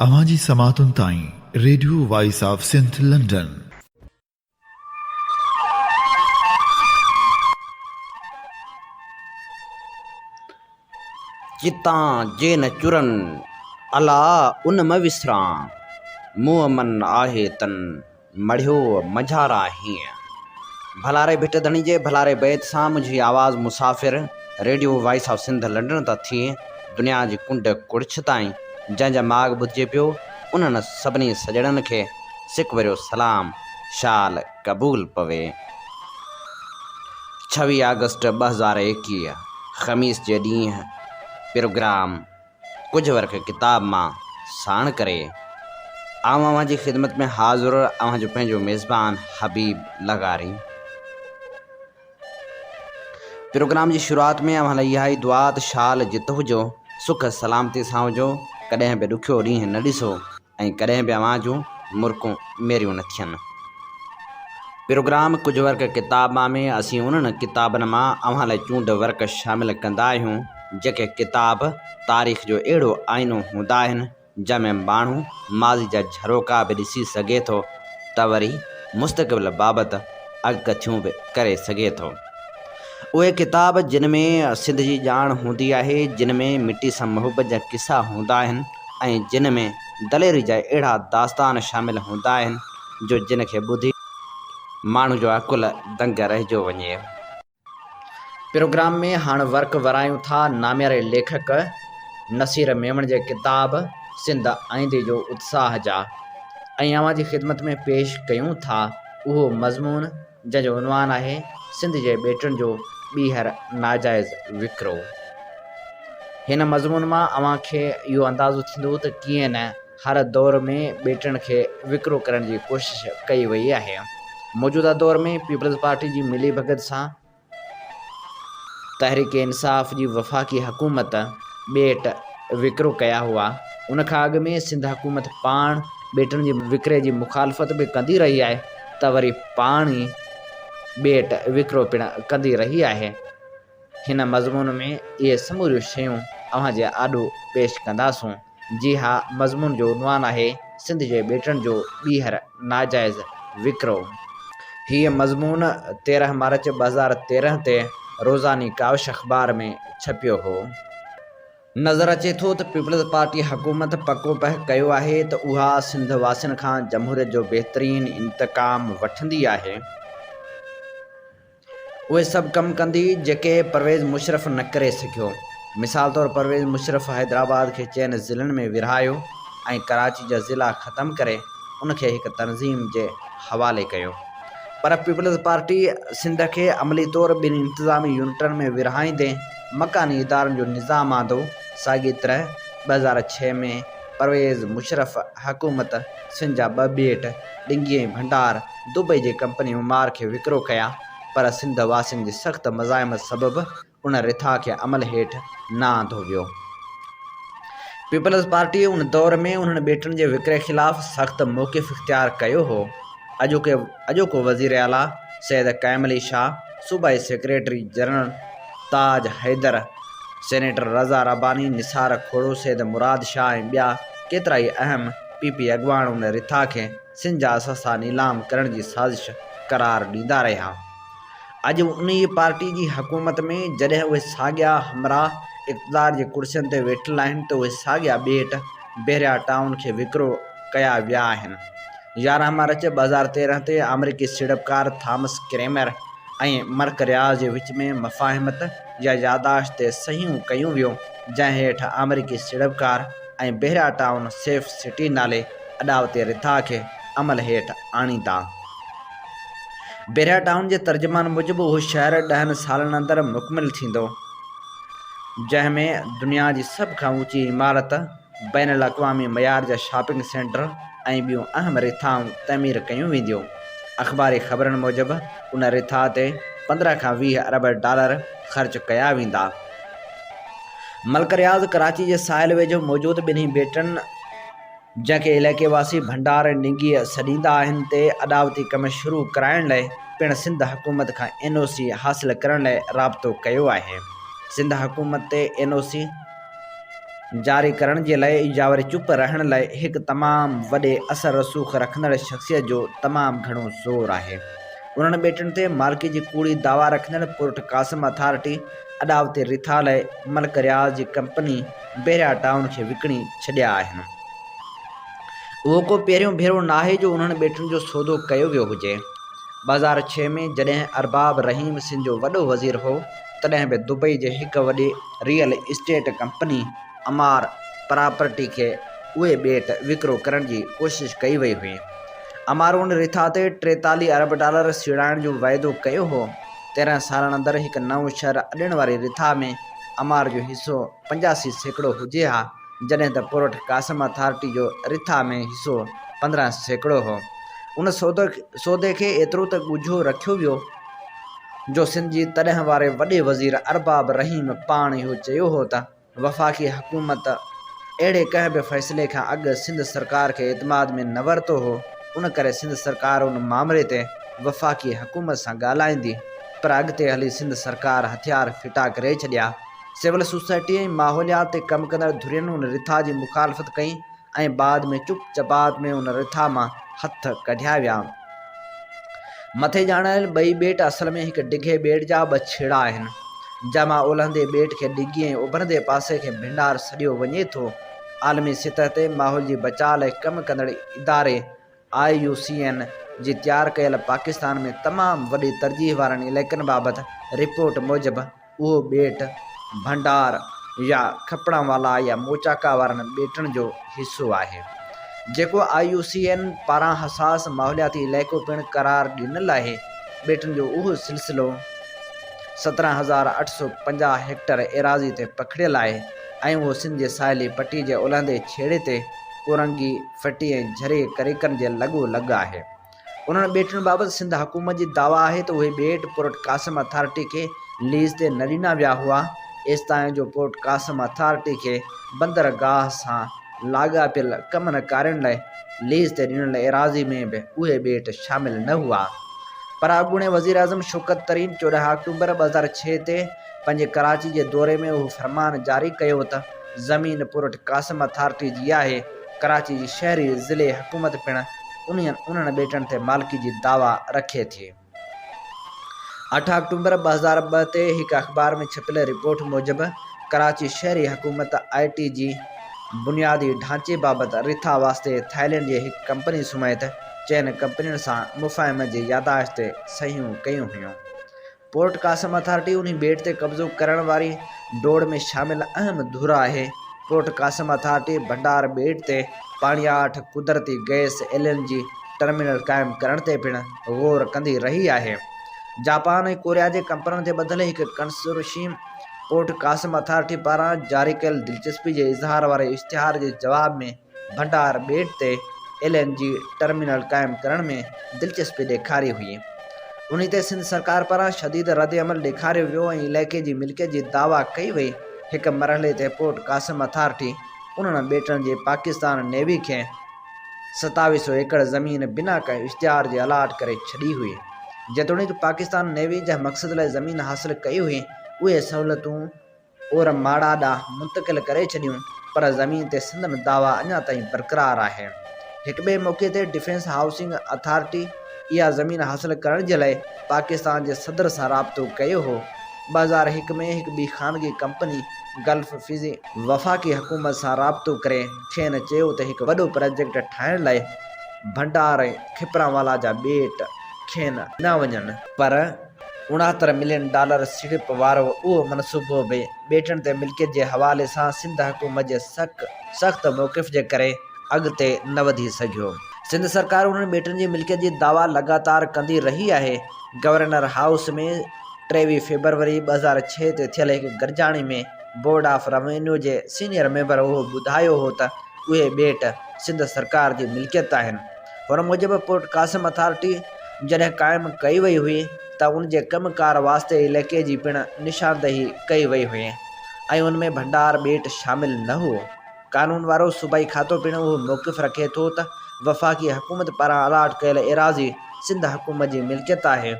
اوهان جي سماعتن تائين radio voice of Sindh London. جتان جي نه چرن الا ان م وسران، مون من آهي تن. مڙهيو مجهار آهين. ڀلاري ڀٽ ڌڻي جي ڀلاري بيت سان منهنجي آواز مسافر radio voice of Sindh London تان ٿي دنيا جي ڪنڊ ڪڙڇ تائين جنهن جا ماڳ ٻڌجي پيو انهن سڀني سڄڻن کي سڪ ڀريو سلام شال قبول پوي ڇويهه آگسٽ ٻه هزار ايڪيهه خميس جي ڏينهن پروگرام ڪجهه ورق ڪتاب مان ساڻ ڪري آئون اوهان جي خدمت ۾ حاضر اوهان جو پنهنجو ميزبان حبيب لغاري. پروگرام جي شروعات ۾ اوهان لاء اها ئي دعا ته شال جت هجو، سک سلامتي سان هجو، ڪڏهن به ڏکيو ڏينهن نه ڏسو، ۽ ڪڏهن به اوهان جون مرڪون ميريون نه ٿين. پروگرام ڪجهه ورق ڪتاب مان ۾ اسين انهن ڪتابن مان اوهان لاء چونڊ ورق شامل ڪندا آهيون جيڪي ڪتاب تاريخ جو اهڙو آئينو هوندا آهن جنهن ۾ ماڻهو ماضي جا جهروڪا به ڏسي سگهي ٿو ته وري مستقبل بابت اڳڪٿيون به ڪري سگهي ٿو. اهي ڪتاب جن ۾ سنڌ جي ڄاڻ هوندي آهي جن ۾ مٽي سان محبت جا قصا هوندا آهن. ۽ جن ۾ دليري جا اهڙا داستان شامل هوندا آهن جو جن کي ٻڌي ماڻهو جو عقل دنگ رهجيو وڃي. پروگرام ۾ هاڻ ورق ورايون ٿا نامياري ليکڪ نصير ميمڻ جي ڪتاب سنڌ آئيندي جو اتساهه جا ۽ اوهان جي خدمت ۾ پيش ڪيون ٿا اهو مضمون. جنهن جو عنوان آهي سنڌ جي ٻيٽن جو ٻيهر ناجائز وڪرو. هن مضمون مان اوهان کي اهو اندازو ٿيندو ته ڪيئن نه هر دور ۾ ٻيٽن کي وڪرو ڪرڻ جي ڪوشش ڪئي وئي آهي. موجوده دور ۾ پيپلز پارٽي جي ملي ڀڳت سان تحريڪ انصاف جي وفاقي حڪومت ٻيٽ وڪرو ڪيا هئا. ان کان اڳ ۾ سنڌ حڪومت پاڻ ٻيٽن جي وڪري جي مخالفت به ڪندي رهي آهي. ته وري پاڻ ئي ٻيٽ وڪرو پڻ ڪندي رهي آهي. هن مضمون ۾ اهي سموريون شيون اوهان جي آڏو پيش ڪنداسون. جي ها، مضمون جو عنوان آهي، سنڌ جي ٻيٽن جو ٻيهر ناجائز وڪرو. هيء مضمون تيرهن مارچ ٻه هزار تيرهن تي روزاني ڪاوش اخبار ۾ ڇپيو هو. نظر اچي ٿو ته پيپلز پارٽي حڪومت پڪو پهه ڪيو آهي ته اها سنڌ واسين کان جمهوريت جو بهترين انتقام وٺندي آهي. اهي سڀ ڪم ڪندي جيڪي پرويز مشرف نه ڪري سگهيو. مثال طور پرويز مشرف حيدرآباد کي چئن ضلعن ۾ ورهايو ۽ ڪراچي جا ضلعا ختم ڪري ان کي هڪ تنظيم جي حوالي ڪيو پر پيپلز پارٽي سنڌ کي عملي طور ٻن انتظامي يونٽن ۾ ورهائيندي مڪاني ادارن جو نظام آندو، ساڳيء طرح ٻه هزار ڇهه ۾ پرويز مشرف حڪومت سنڌ جا ٻه ٻيٽ ڊنگي ۽ ڀنڊار دبئي جي ڪمپني معمار کي وڪرو ڪيا پر سنڌ واسين جي سخت مزاحمت سبب ان رٿا کي عمل هيٺ نه آندو ويو. پيپلز پارٽيء ان دور ۾ انهن ٻيٽن جي وڪري خلاف سخت موقف اختيار ڪيو هو. اڄوڪي اڄوڪو وزير اعليٰ سيد قائم علي شاهه، صوبائي secretary general, Taj Haider, senator Raza Rabbani, Nisar Khuhro, Syed Murad Shah ۽ ٻيا ڪيترائي اهم پي پي اڳواڻ ان رٿا کي سنڌ جا اثاثا نيلام ڪرڻ جي سازش قرار ڏيندا رهيا. اڄ به انهيء پارٽيء جي حڪومت ۾ جڏهن اهي ساڳيا همراهه اقتدار جي ڪرسين تي ويٺل آهن ته اهي ساڳيا ٻيٽ بحريا ٽائون کي وڪرو ڪيا ويا آهن. يارهن مارچ ٻه هزار تيرهن تي آمريڪي سيڙپڪار ٿامس ڪريمر ۽ مرڪ رياض جي وچ ۾ مفاهمت يا ياداشت تي صحيحون ڪيون ويون جنهن هيٺ آمريڪي سيڙپڪار ۽ بحريا ٽائون سيف سٽي نالي اڏاوتي رٿا کي عمل هيٺ آڻيندا. بحريا ٽائون جي ترجمان موجب اهو شهر ڏهن سالن اندر مڪمل ٿيندو جنهن ۾ دنيا جي سڀ کان اوچي عمارت بين الاقوامي معيار جا شاپنگ سينٽر ۽ ٻيون اهم رٿائون تعمير ڪيون وينديون. اخباري خبرن موجب ان رٿا تي پندرهن کان ويهه ارب ڊالر خرچ ڪيا ويندا. ملڪ رياض ڪراچي جي ساحل ويجهو موجود ٻنهي ٻيٽن جنهن کي علائقي واسي ڀنڊار ننگيء سڏيندا آهن تي اڏاوتي ڪم شروع ڪرائڻ لاء پڻ سنڌ حڪومت کان اين او سي حاصل ڪرڻ لاء رابطو ڪيو آهي. سنڌ حڪومت تي اين او سي. جاري ڪرڻ جي لئه ايجاوري چپ رهڻ لئه هڪ تمام وڏي اثر رسوخ رکندڙ شخصيت جو تمام گهڻو زور آهي انهن ٻيٽن تي مالڪي جي ڪوڙي دعويٰ رکندڙ پورٽ قاسم اٿارٽي اڏاوتي رٿا لئه ملڪ رياض جي ڪمپني بحريا ٽائون کي وڪڻي ڇڏيا آهن اهو ڪو پهريون ڀيرو ناهي جو انهن ٻيٽن جو سودو ڪيو ويو هجي ٻه هزار ڇهه ۾ جڏهن ارباب رحيم سنڌ جو وڏو وزير هو تڏهن به دبئي جي هڪ وڏي real estate company Emaar property کي اهي ٻيٽ وڪرو ڪرڻ جي ڪوشش ڪئي وئي هئي. امارون رٿا تي ٽيتاليهه ارب ڊالر سيڙائڻ جو وعدو ڪيو هو. تيرهن سالن اندر هڪ نئون شهر اڏڻ واري رٿا ۾ امار جو حصو پنجاسي سيڪڙو هجي ها. جڏهن ته پورٽ قاسم اٿارٽي جو رٿا ۾ حصو پندرهن سيڪڙو هو. ان سودي کي ايترو ته ڳجهو رکيو ويو جو سنڌ جي تڏهن واري وڏي وزير ارباب رحيم پاڻ اهو چيو هو ته وفاقي حڪومت اهڙي ڪنهن به فيصلي کان اڳ سنڌ سرڪار کي اعتماد ۾ نه ورتو هو ان ڪري سنڌ سرڪار ان مامري تي وفاقي حڪومت سان ڳالهائيندي پر اڳتي هلي سنڌ سرڪار هٿيار ڦٽا ڪري ڇڏيا. سول سوسائٽي ۽ ماحوليات تي ڪم ڪندڙ ڌرين ان رٿا جي مخالفت ڪئي ۽ بعد ۾ چپ چپات ۾ ان رٿا مان هٿ ڪڍيا ويا. مٿي ڄاڻايل ٻئي ٻيٽ اصل ۾ هڪ ڊگهي ٻيٽ جا ٻه ڇيڙا آهن، جنهن مان اولهندي ٻيٽ کي ڊگهي ۽ اڀرندي پاسي کي ڀنڊار سڏيو وڃي ٿو. عالمي سطح تي ماحول جي بچاء لاء ڪم ڪندڙ اداري آء يو سي اين جي تيار ڪيل پاڪستان ۾ تمام وڏي ترجيح وارن علائقن بابت رپورٽ موجب اهو ٻيٽ ڀنڊار يا کپڻا والا يا موچاڪا وارن ٻيٽن جو حصو آهي جيڪو آء يو سي اين پاران حساس ماحولياتي علائقو پڻ قرار ڏنل آهي ٻيٽن جو اهو سلسلو سترهن هزار اٺ سؤ پنجاهه هيڪٽر ايراضي تي پکڙيل آهي ۽ اهو سنڌ جي ساحلي پٽي جي اولهندي ڇيڙي تي ڪورنگي ڦٽي ۽ جھري ڪريڪن جي لڳو لڳ آهي. انهن ٻيٽن بابت سنڌ حڪومت جي دعويٰ آهي ته اهي ٻيٽ پورٽ قاسم اٿارٽي کي ليز تي نه ڏنا ويا هئا، ايستائين جو پورٽ قاسم اٿارٽي کي بندرگاهه سان لاڳاپيل ڪمن ڪارين لاء ليز تي ڏنل ايراضي ۾ به اهي ٻيٽ شامل نه هئا. پر اڳوڻي وزيراعظم شوڪت ترين چوڏهن آڪٽوبر ٻه هزار ڇهه تي پنهنجي ڪراچي جي دوري ۾ اهو فرمان جاري ڪيو ته زمين پورٽ قاسم اٿارٽي جي آهي، ڪراچي جي شهري ضلعي حڪومت پڻ انهن انهن ٻيٽن تي مالڪي جي دعويٰ رکي ٿي. اٺ آڪٽومبر ٻه هزار ٻه تي هڪ اخبار ۾ ڇپيل رپورٽ موجب ڪراچي شهري حڪومت آء ٽي جي بنيادي ڍانچي بابت رٿا واسطي ٿائلينڊ جي هڪ ڪمپني سميت چئن ڪمپنين سان مفاهمي جي يادداشت تي صحيحون ڪيون هيون پورٽ قاسم اٿارٽي انهي ٻيٽ تي قبضو ڪرڻ واري ڊوڙ ۾ شامل اهم ڌر آهي. پورٽ قاسم اٿارٽي ڀنڊار ٻيٽ تي پاڻياٺ، قدرتي گئس، ايل اين جي ٽرمينل قائم ڪرڻ تي پڻ غور ڪندي رهي آهي. جاپان ۽ ڪوريا جي ڪمپنن تي ٻڌل هڪ ڪنسورشيم پورٽ قاسم اٿارٽي پاران جاري ڪيل دلچسپي جي اظهار واري اشتهار جي جواب ۾ ڀنڊار ٻيٽ تي ايل اين جي ٽرمينل قائم ڪرڻ ۾ دلچسپي ڏيکاري هئي انهي تي سنڌ سرڪار پاران شديد ردعمل ڏيکاريو ويو ۽ علائقي جي ملڪيت جي دعويٰ ڪئي وئي هڪ مرحلي تي پورٽ قاسم اٿارٽي انهن ٻيٽن جي پاڪستان نيوي کي ستاوي سو ايڪڙ زمين بنا ڪنهن اشتهار جي الاٽ ڪري ڇڏي هئي جيتوڻيڪ پاڪستان نيوي جنهن مقصد لاء زمين حاصل ڪئي هئي اهي سهولتون اور ماڙا ڏانهن منتقل ڪري ڇڏيون پر زمين تي سندن دعويٰ اڃا تائين برقرار آهي. هڪ ٻئي موقعي تي ڊفينس هائوسنگ اٿارٽي اها زمين حاصل ڪرڻ جي لاء پاڪستان جي صدر سان رابطو ڪيو هو. ٻه هزار هڪ ۾ هڪ ٻي خانگي ڪمپني گلف فزي. وفاقي حڪومت سان رابطو ڪري کين چيو ته هڪ وڏو پراجيڪٽ ٺاهڻ لاء ڀنڊار ۽ کپرانوالا جا ٻيٽ کين ڏنا وڃن. پر اڻهتر ملين ڊالر سيڙپ وارو اهو منصوبو به ٻيٽن تي ملڪيت جي حوالي سان سنڌ حڪومت جي سک سخت موقف جي ڪري اڳتي نه وڌي سگهيو. سنڌ سرڪار انهن ٻيٽن جي ملڪيت جي دعويٰ لڳاتار ڪندي رهي آهي. گورنر هائوس ۾ ٽيويهه فيبروري ٻه هزار ڇهه تي ٿيل هڪ گڏجاڻي ۾ بورڊ آف روينيو جي سينئر ميمبر اهو ٻڌايو هو ته اهي ٻيٽ سنڌ سرڪار جي ملڪيت آهن. هن موجب پورٽ قاسم اٿارٽي جڏهن قائم ڪئي وئي هئي ته ان جي ڪم ڪار واسطي عليقي جي پڻ نشاندهي ڪئي وئي هئي ۽ ان ۾ ڀنڊار ٻيٽ شامل نه هئو. قانون وارو صوبائي کاتو پڻ اهو موقف رکي ٿو ته وفاقي حڪومت پاران الاٽ ڪيل ايراضي سنڌ حڪومت جي ملڪيت آهي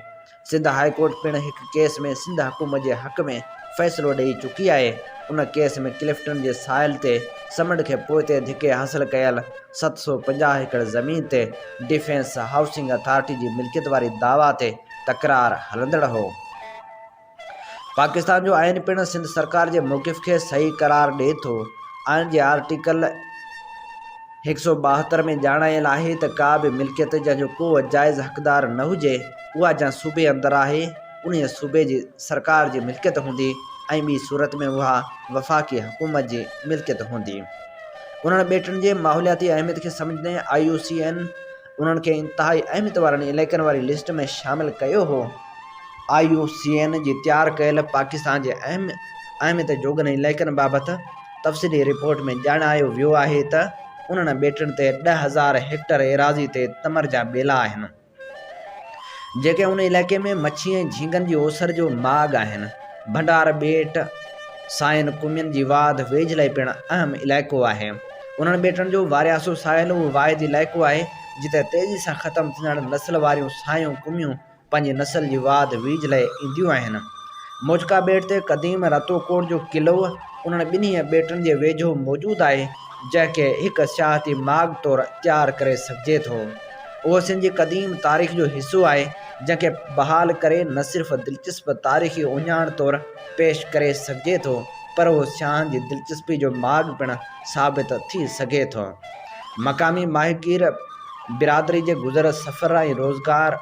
سنڌ هاء ڪورٽ پڻ هڪ ڪيس ۾ سنڌ حڪومت جي حق ۾ فيصلو ڏئي چڪي آهي، ان ڪيس ۾ ڪلفٽن جي ساحل تي سمنڊ کي پوئتي ڌڪي حاصل ڪيل ست سؤ پنجاهه ايڪڙ زمين تي ڊفينس هائوسنگ اٿارٽي جي ملڪيت واري دعويٰ تي تڪرار هلندڙ هو. پاڪستان جو آئين پڻ سنڌ سرڪار جي موقف کي صحيح قرار ڏئي ٿو، آئين جي آرٽيڪل. هڪ سؤ ٻاهتر ۾ ڄاڻايل آهي ته ڪا به ملڪيت جنهن جو ڪو جائز حقدار نه هجي، اها جنهن صوبي اندر آهي، انهيء صوبي جي سرڪار جي ملڪيت هوندي ۽ ٻي صورت ۾ اها وفاقي حڪومت جي ملڪيت هوندي. انهن ٻيٽن جي ماحولياتي اهميت کي سمجهندي آء يو سي اين، انهن کي انتهائي اهميت وارن علائقن واري لسٽ ۾ شامل ڪيو هو. آء يو سي اين جي تيار ڪيل پاڪستان جي اهم اهميت جوڳن علائقن بابت تفصيلي رپورٽ ۾ ڄاڻايو ويو آهي ته انهن ٻيٽن تي ڏهه هزار هيڪٽر ايراضي تي تمر جا ٻيلا آهن، جيڪي ان علائقي ۾ مڇي ۽ جھينگن جي اوسر جو ماڳ آهن. ڀنڊار ٻيٽ ساين قومين جي واڌ ويجهه لاء پڻ اهم علائقو آهي. انهن ٻيٽن جو وارياسو ساحل اهو واحد علائقو آهي جتي تيزي سان ختم ٿيندڙ نسل واريون سايون قوميون پنهنجي نسل جي واڌ ويجهه لاء اينديون آهن. موجڪا ٻيٽ تي قديم رتوڪوٽ جو قلعو انهن ٻنهي ٻيٽن جي ويجهو موجود آهي جنهن کي هڪ سياحتي ماڳ طور تيار ڪري سگهجي ٿو. اهو سنڌ جي قديم تاريخ جو حصو آهي، جنهن کي بحال ڪري نه صرف دلچسپ تاريخي اهڃاڻ طور پيش ڪري سگهجي ٿو، پر اهو سياحن جي دلچسپي جو ماڳ پڻ ثابت ٿي سگهي ٿو. مقامي ماهيگير برادري جي گذر سفر ۽ روزگار.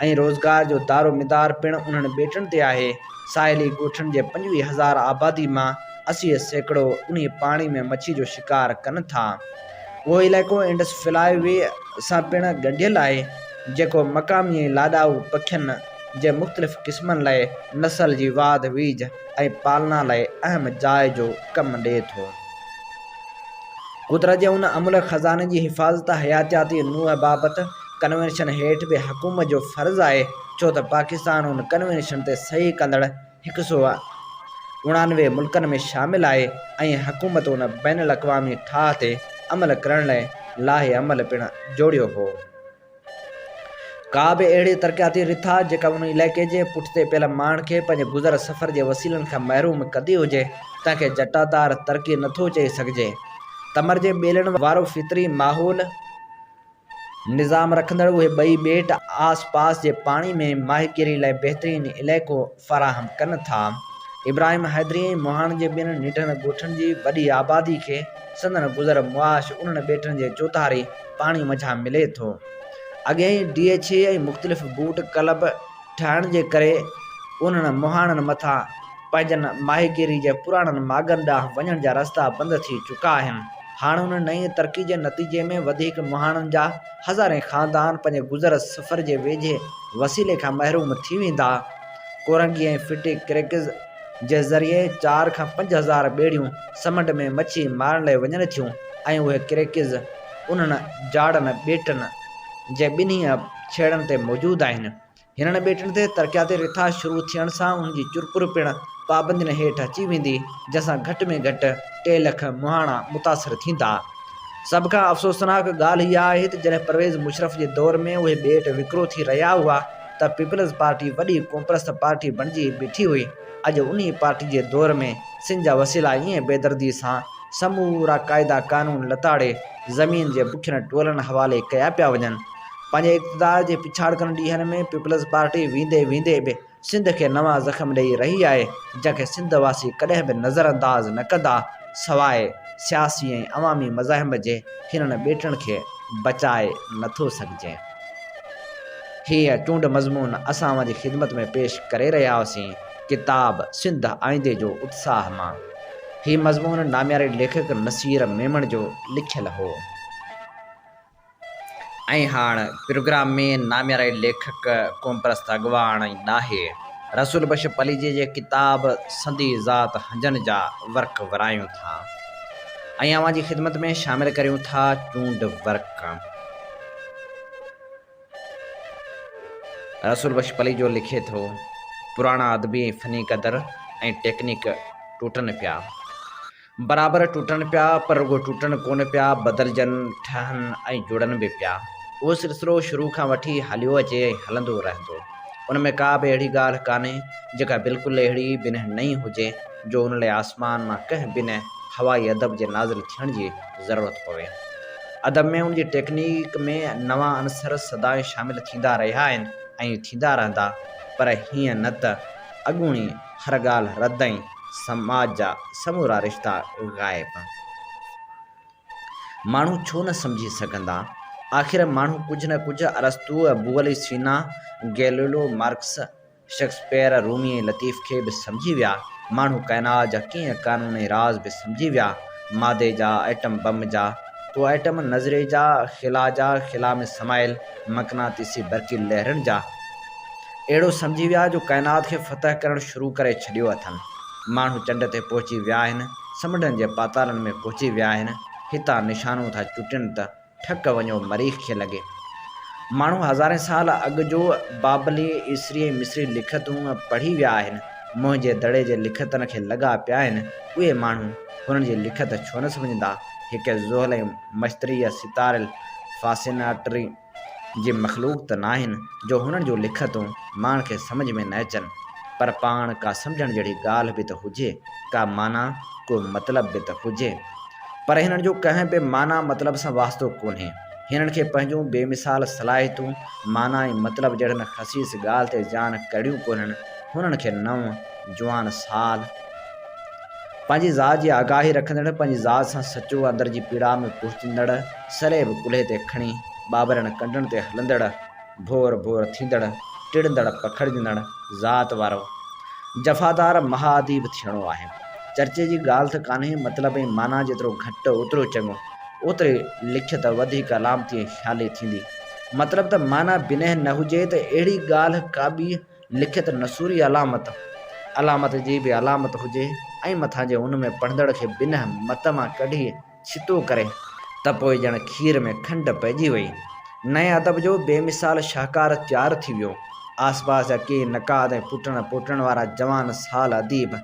۽ روزگار جو دارومدار پڻ انهن ٻيٽن تي آهي. ساحلي ڳوٺن جي پنجويهه هزار آبادي مان اسي سيڪڙو انهي پاڻي ۾ مڇي جو شڪار ڪن ٿا. اهو علائقو انڊس فلاء وي سان پڻ ڳنڍيل آهي، جيڪو مقامي ۽ لاڏائو پکين جي مختلف قسمن لاء نسل جي واڌ ويجهه ۽ پالنا لاء اهم جاء جو ڪم ڏئي ٿو. قدرت جي ان املهه خزاني جي حفاظت حياتياتي نوع بابت ڪنوينشن هيٺ به حڪومت جو فرض آهي ڇو ته پاڪستان ان ڪنوينشن تي صحيح ڪندڙ هڪ سئو اڻانوي ملڪن ۾ شامل آهي ۽ حڪومت ان بين الاقوامي ٺاهه تي عمل ڪرڻ لاء لائحه عمل پڻ جوڙيو هو. ڪا به اهڙي ترقياتي رٿا جيڪا ان علائقي جي پٺتي پيل ماڻهن کي پنهنجي گذر سفر جي وسيلن کان محروم ڪندي هجي تنهن کي جٽادار ترقي نٿو چئي سگهجي. تمر جي ٻيلن وارو فطري ماحول، نظام رکندڙ اهي ٻئي ٻيٽ آس پاس جي پاڻي ۾ ماهيگيري لاء بهترين علائقو فراهم ڪن ٿا. ابراهيم حيدري ۽ مهاڻ جي ٻين ننڍڙن ڳوٺن جي وڏي آبادي کي سندن گذر معاش انهن ٻيٽن جي چوڌاري پاڻي منجهان ملي ٿو. اڳهين ڊي ايڇ اي ۽ مختلف بوٽ ڪلب، ٺاهڻ جي ڪري انهن مهاڻن مٿان پنهنجن ماهيگيري جي پراڻن ماڳن ڏانهن وڃڻ جا رستا بند ٿي چڪا آهن. هاڻ ان نئين ترقي جي نتيجي ۾ وڌيڪ مهاڻن جا هزارين خاندان پنهنجي گذر سفر جي ويجهي وسيلي کان محروم ٿي ويندا. ڪورنگي ۽ ڦٽي ڪريڪز جي ذريعي چار کان پنج هزار ٻيڙيون سمنڊ ۾ مڇي مارڻ لاء وڃن ٿيون ۽ اهي ڪريڪز انهن جاڙن ٻيٽن جي ٻنهي ڇيڙن تي موجود آهن. هنن ٻيٽن تي ترقياتي رٿا شروع ٿيڻ سان ان جي چرپر پڻ پابندين هيٺ اچي ويندي، جنهن سان گهٽ ۾ گهٽ ٽي لک مهاڻا متاثر ٿيندا. سڀ کان افسوسناڪ ڳالهه اها آهي ته جڏهن پرويز مشرف جي دور ۾ اهي ٻيٽ وڪرو ٿي رهيا هئا ته پيپلز پارٽي وڏي قومپرست پارٽي بڻجي بيٺي هئي، اڄ انهي پارٽي جي دور ۾ سنڌ جا وسيلا ائين بيدردي سان سمورا قاعدا قانون لتاڙي زمين جي بکين ٽولن حوالي ڪيا پيا وڃن. پنهنجي اقتدار جي پڇاڙڪن ڏينهن ۾ پيپلز پارٽي ويندي ويندي به سنڌ کي نوان زخم ڏئي رهي آهي جنهن کي سنڌ واسي ڪڏهن به نظر انداز نه ڪندا سواء سياسي ۽ عوامي مزاحم جي هنن ٻيٽن کي بچائي نٿو سگهجي هيء چونڊ مضمون اسان اوهان جي خدمت ۾ پيش ڪري رهيا هئاسين ڪتاب سنڌ آئيندي جو اتساهه مان هي مضمون نامياري ليکڪ نصير ميمڻ جو لکيل هو. ۽ هاڻ پروگرام ۾ نامياري ليکڪ، قومپرست اڳواڻ ۽ ڏاهي رسول بخش پليجي جي ڪتاب سندي ذات هنجن جا ورق ورايون ٿا ۽ اوهان جي خدمت ۾ شامل ڪريون ٿا چونڊ ورق رسول بخش پليجو لکي ٿو، پراڻا ادبي ۽ فني قدر ۽ ٽيڪنڪ ٽوٽن پيا. برابر ٽٽن پيا، پر رڳو ٽٽن ڪونه پيا، بدلجن، ٺهن ۽ جڙن به پيا. اهو سلسلو شروع کان وٺي هليو اچي ۽ هلندو رهندو. ان ۾ ڪا به اهڙي ڳالهه ڪانهي، جيڪا بلڪل اهڙي بنهه نئين هجي، جو ان لاء آسمان مان ڪنهن بنهه هوائي ادب جي نازل ٿيڻ جي ضرورت پوي. ادب ۾ ان جي ٽيڪنيڪ ۾ نوان عنصر سدائين شامل ٿيندا رهيا آهن ۽ ٿيندا رهندا، پر هيئن نه ته اڳوڻي هر ڳالهه رد ۽. سماج جا سمورا رشتا غائب. ماڻهو ڇو نه سمجهي سگهندا؟ آخر ماڻهو ڪجهه نه ڪجهه ارسطوء، بوعلي سينا، Galileo, Marx, Shakespeare, Rumi ۽ Latif کي به سمجهي ويا. ماڻهو ڪائنات جا ڪيئي قانون ۽ راز به سمجهي ويا. مادي جا، ايٽم بم جا، تو ايٽم نظري جا، خلا جا، خلا ۾ سمايل مقناطيسي برقي لهرن جا. اهڙو سمجهي ويا جو ڪائنات کي فتح ڪرڻ شروع ڪري ڇڏيو اٿن. ماڻهو چنڊ تي پهچي ويا آهن، سمنڊن جي پاتالن ۾ پهچي ويا آهن، هتان نشانون ٿا چٽين ته ٺڪ وڃو مريخ کي لڳي. ماڻهو هزارين سال اڳ جو بابلي، عيسري ۽ مصري لکتون پڙهي ويا آهن. موهن جي دڙي جي لکتن کي لڳا پيا آهن، اهي ماڻهو هنن جي لکت ڇو نه سمجهندا. هڪ زحل ۽ مشتريء ستاريل فاسيناٽري. جي مخلوق ته ناهن جو هنن جون لکتون ماڻهن کي سمجهه ۾ نه اچن، پر پاڻ ڪا سمجهڻ جهڙي ڳالهه به ته هجي، ڪا معنيٰ، ڪو مطلب به ته هجي. پر هنن جو ڪنهن به معنيٰ مطلب سان واسطو ڪونهي. هنن کي پنهنجون بي مثال صلاحيتون، معنيٰ ۽ مطلب جهڙن خسيس ڳالهه تي جان ڪڙيون ڪونهن، هنن کي نو، جوان سال، پنهنجي ذات جي آگاهي رکندڙ، پنهنجي ذات سان سچو، اندر جي پيڙا ۾ پهچندڙ، سرهي به ڪلهي تي کڻي، ٻاٻرن ڪنڊن تي هلندڙ، ڀور ڀور ٿيندڙ، ٽڙندڙ پکڙجندڙ ذات وارو جفادار مها اديب ٿيڻو آهي. چرچي جي ڳالهه ته ڪانهي، مطلب ۽ معنيٰ جيترو گهٽ اوترو چڱو. اوتري لکيت وڌيڪ علامتي ۽ خيالي ٿيندي. مطلب ته معنيٰ بنهه نه هجي ته اهڙي ڳالهه ڪابه لکت نثوري علامت، علامت جي به علامت هجي ۽ مٿان جي ان ۾ پڙهندڙ کي بنهه مت مان ڪڍي ڇتو ڪري ته پوء ڄڻ کير ۾ کنڊ پئجي وئي. نئين ادب جو بي مثال شاهڪار تيار ٿي ويو. آس پاس جا ڪيئي نقاد ۽ پٽڻ پوٽڻ وارا جوان سال اديب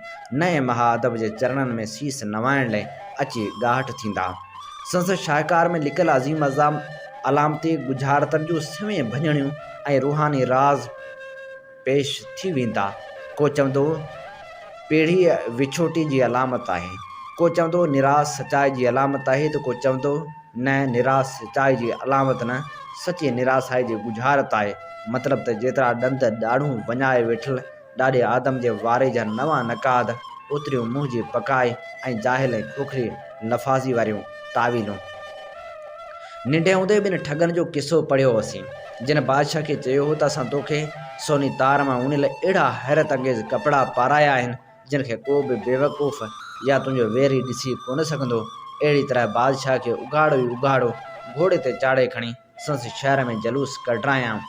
نئين مها ادب جي چرڻن ۾ سيس نوائڻ لئه اچي ڳاهٽ ٿيندا. سندس شاهڪار ۾ لڪل عظيم الزام علامتي ڳجهارتن جون سوين ڀڃڻيون، ۽ روحاني راز پيش ٿي ويندا. ڪو چوندو پيڙهيء وڇوٽي جي علامت آهي، ڪو چوندو نراس سچائي جي علامت آهي ته ڪو چوندو نه نراس سچائي جي علامت نه، سچي نراسائي جي ڳجهارت آهي، مطلب ته جيترا ڏند ڏاڙهون وڃائي ويٺل، ڏاڏي آدم جي واري جا نوان نقاد، اتريون منهن جي پڪائي ۽ جاهل ۽ کوکري لفاظي واريون تاويلون. ننڍي هوندي ٻن ٺڳن جو قصو پڙهيو هوسين، جن بادشاهه کي چيو هو ته اسان توکي سوني تار مان اڻيل اهڙا حيرت انگيز ڪپڙا پارايا آهن، جن کي ڪو به بيوقوف يا تنهنجو ويري ڏسي ڪونه سگهندو. اهڙي طرح بادشاهه کي اگهاڙو ئي اگهاڙو گهوڙي تي چاڙهي کڻي، سندس شهر ۾ جلوس ڪڍرايائون.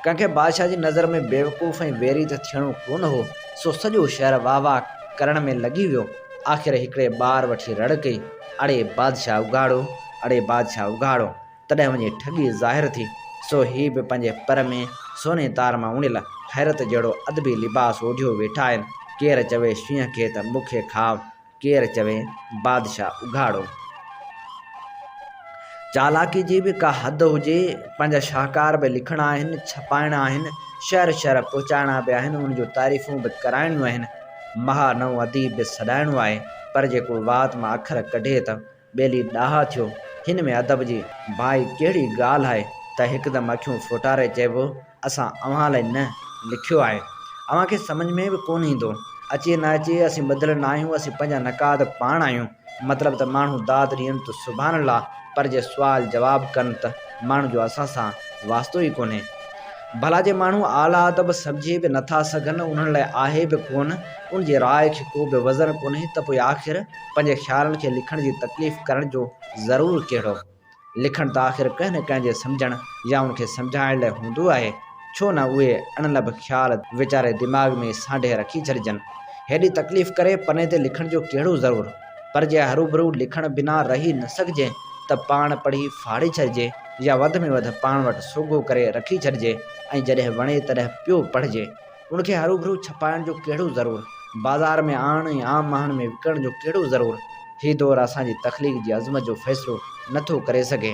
ڪنهن کي بادشاهه جي نظر ۾ بيوقوف ۽ ويري ته ٿيڻو ڪونه هو، سو سڄو شهر واهه واهه ڪرڻ ۾ لڳي ويو. آخر هڪڙي ٻار وٺي رڙ ڪئي، اڙي بادشاهه اگهاڙو! اڙي بادشاهه اگهاڙو! تڏهن وڃي ٺڳي ظاهر ٿي. سو هي به پنهنجي پر ۾ سوني تار مان اڻيل حيرت جهڙو ادبي لباس اوڍيو ويٺا آهن. ڪير چوي شينهن کي ته مون کي کاء. ڪير چوي بادشاهه اگهاڙو. چالاڪي جي به ڪا حد هجي، پنهنجا شاهڪار به لکڻا آهن، ڇپائڻا آهن، شهر شهر پهچائڻا به آهن، ان جون تعريفون به ڪرائڻيون آهن، مها نئون اديب به سڏائڻو آهي، پر جيڪو وات مان اکر ڪڍي ته. ٻيلي ڏاها ٿيو. هن ۾ ادب جي بائي ڪهڙي ڳالهه آهي ته هڪدم اکيون ڦوٽاري چئبو اسان اوهان لاء نه لکيو آهي. اوهان کي سمجهه ۾ به ڪونه ايندو. اچي نه اچي اسين ٻڌل نه آهيون اسين پنهنجا نقاد پاڻ آهيون. مطلب ته ماڻهو داد ڏين ته سبحان الله پر جي سوال جواب ڪن ته ماڻهن جو اسان سان واسطو ئي ڪونهي. ڀلا جي ماڻهو اعليٰ ادب سمجهي به نه ٿا سگهن انهن لاء آهي به ڪونه ان جي راء کي ڪو به وزن ڪونهي ته پوء آخر پنهنجي خيالن کي لکڻ جي تڪليف ڪرڻ جو ضرور ڪهڙو؟ لکڻ ته آخر ڪنهن نه ڪنهن جي سمجهڻ يا ان کي سمجهائڻ لاء هوندو آهي، ڇو نه اهي اڻلڀ خيال ويچاري دماغ ۾ سانڍي رکي ڇڏجن. هيڏي تڪليف ڪري پني تي لکڻ جو ڪهڙو ضرور؟ پر جي هروڀرو لکڻ بنا رهي نه سگهجي ته پاڻ پڙهي ڦاڙي ڇڏجي يا وڌ ۾ وڌ پاڻ وٽ سوگهو ڪري رکي ڇڏجي ۽ جڏهن وڻي تڏهن پيو پڙهجي. ان کي هروڀرو ڇپائڻ جو ڪهڙو ضرور، بازار ۾ آڻڻ ۽ عام ماڻهن ۾ وڪڻڻ جو ڪهڙو ضرور، هي دور اسان جي تخليق جي عظمت جو فيصلو نه ٿو ڪري سگهي.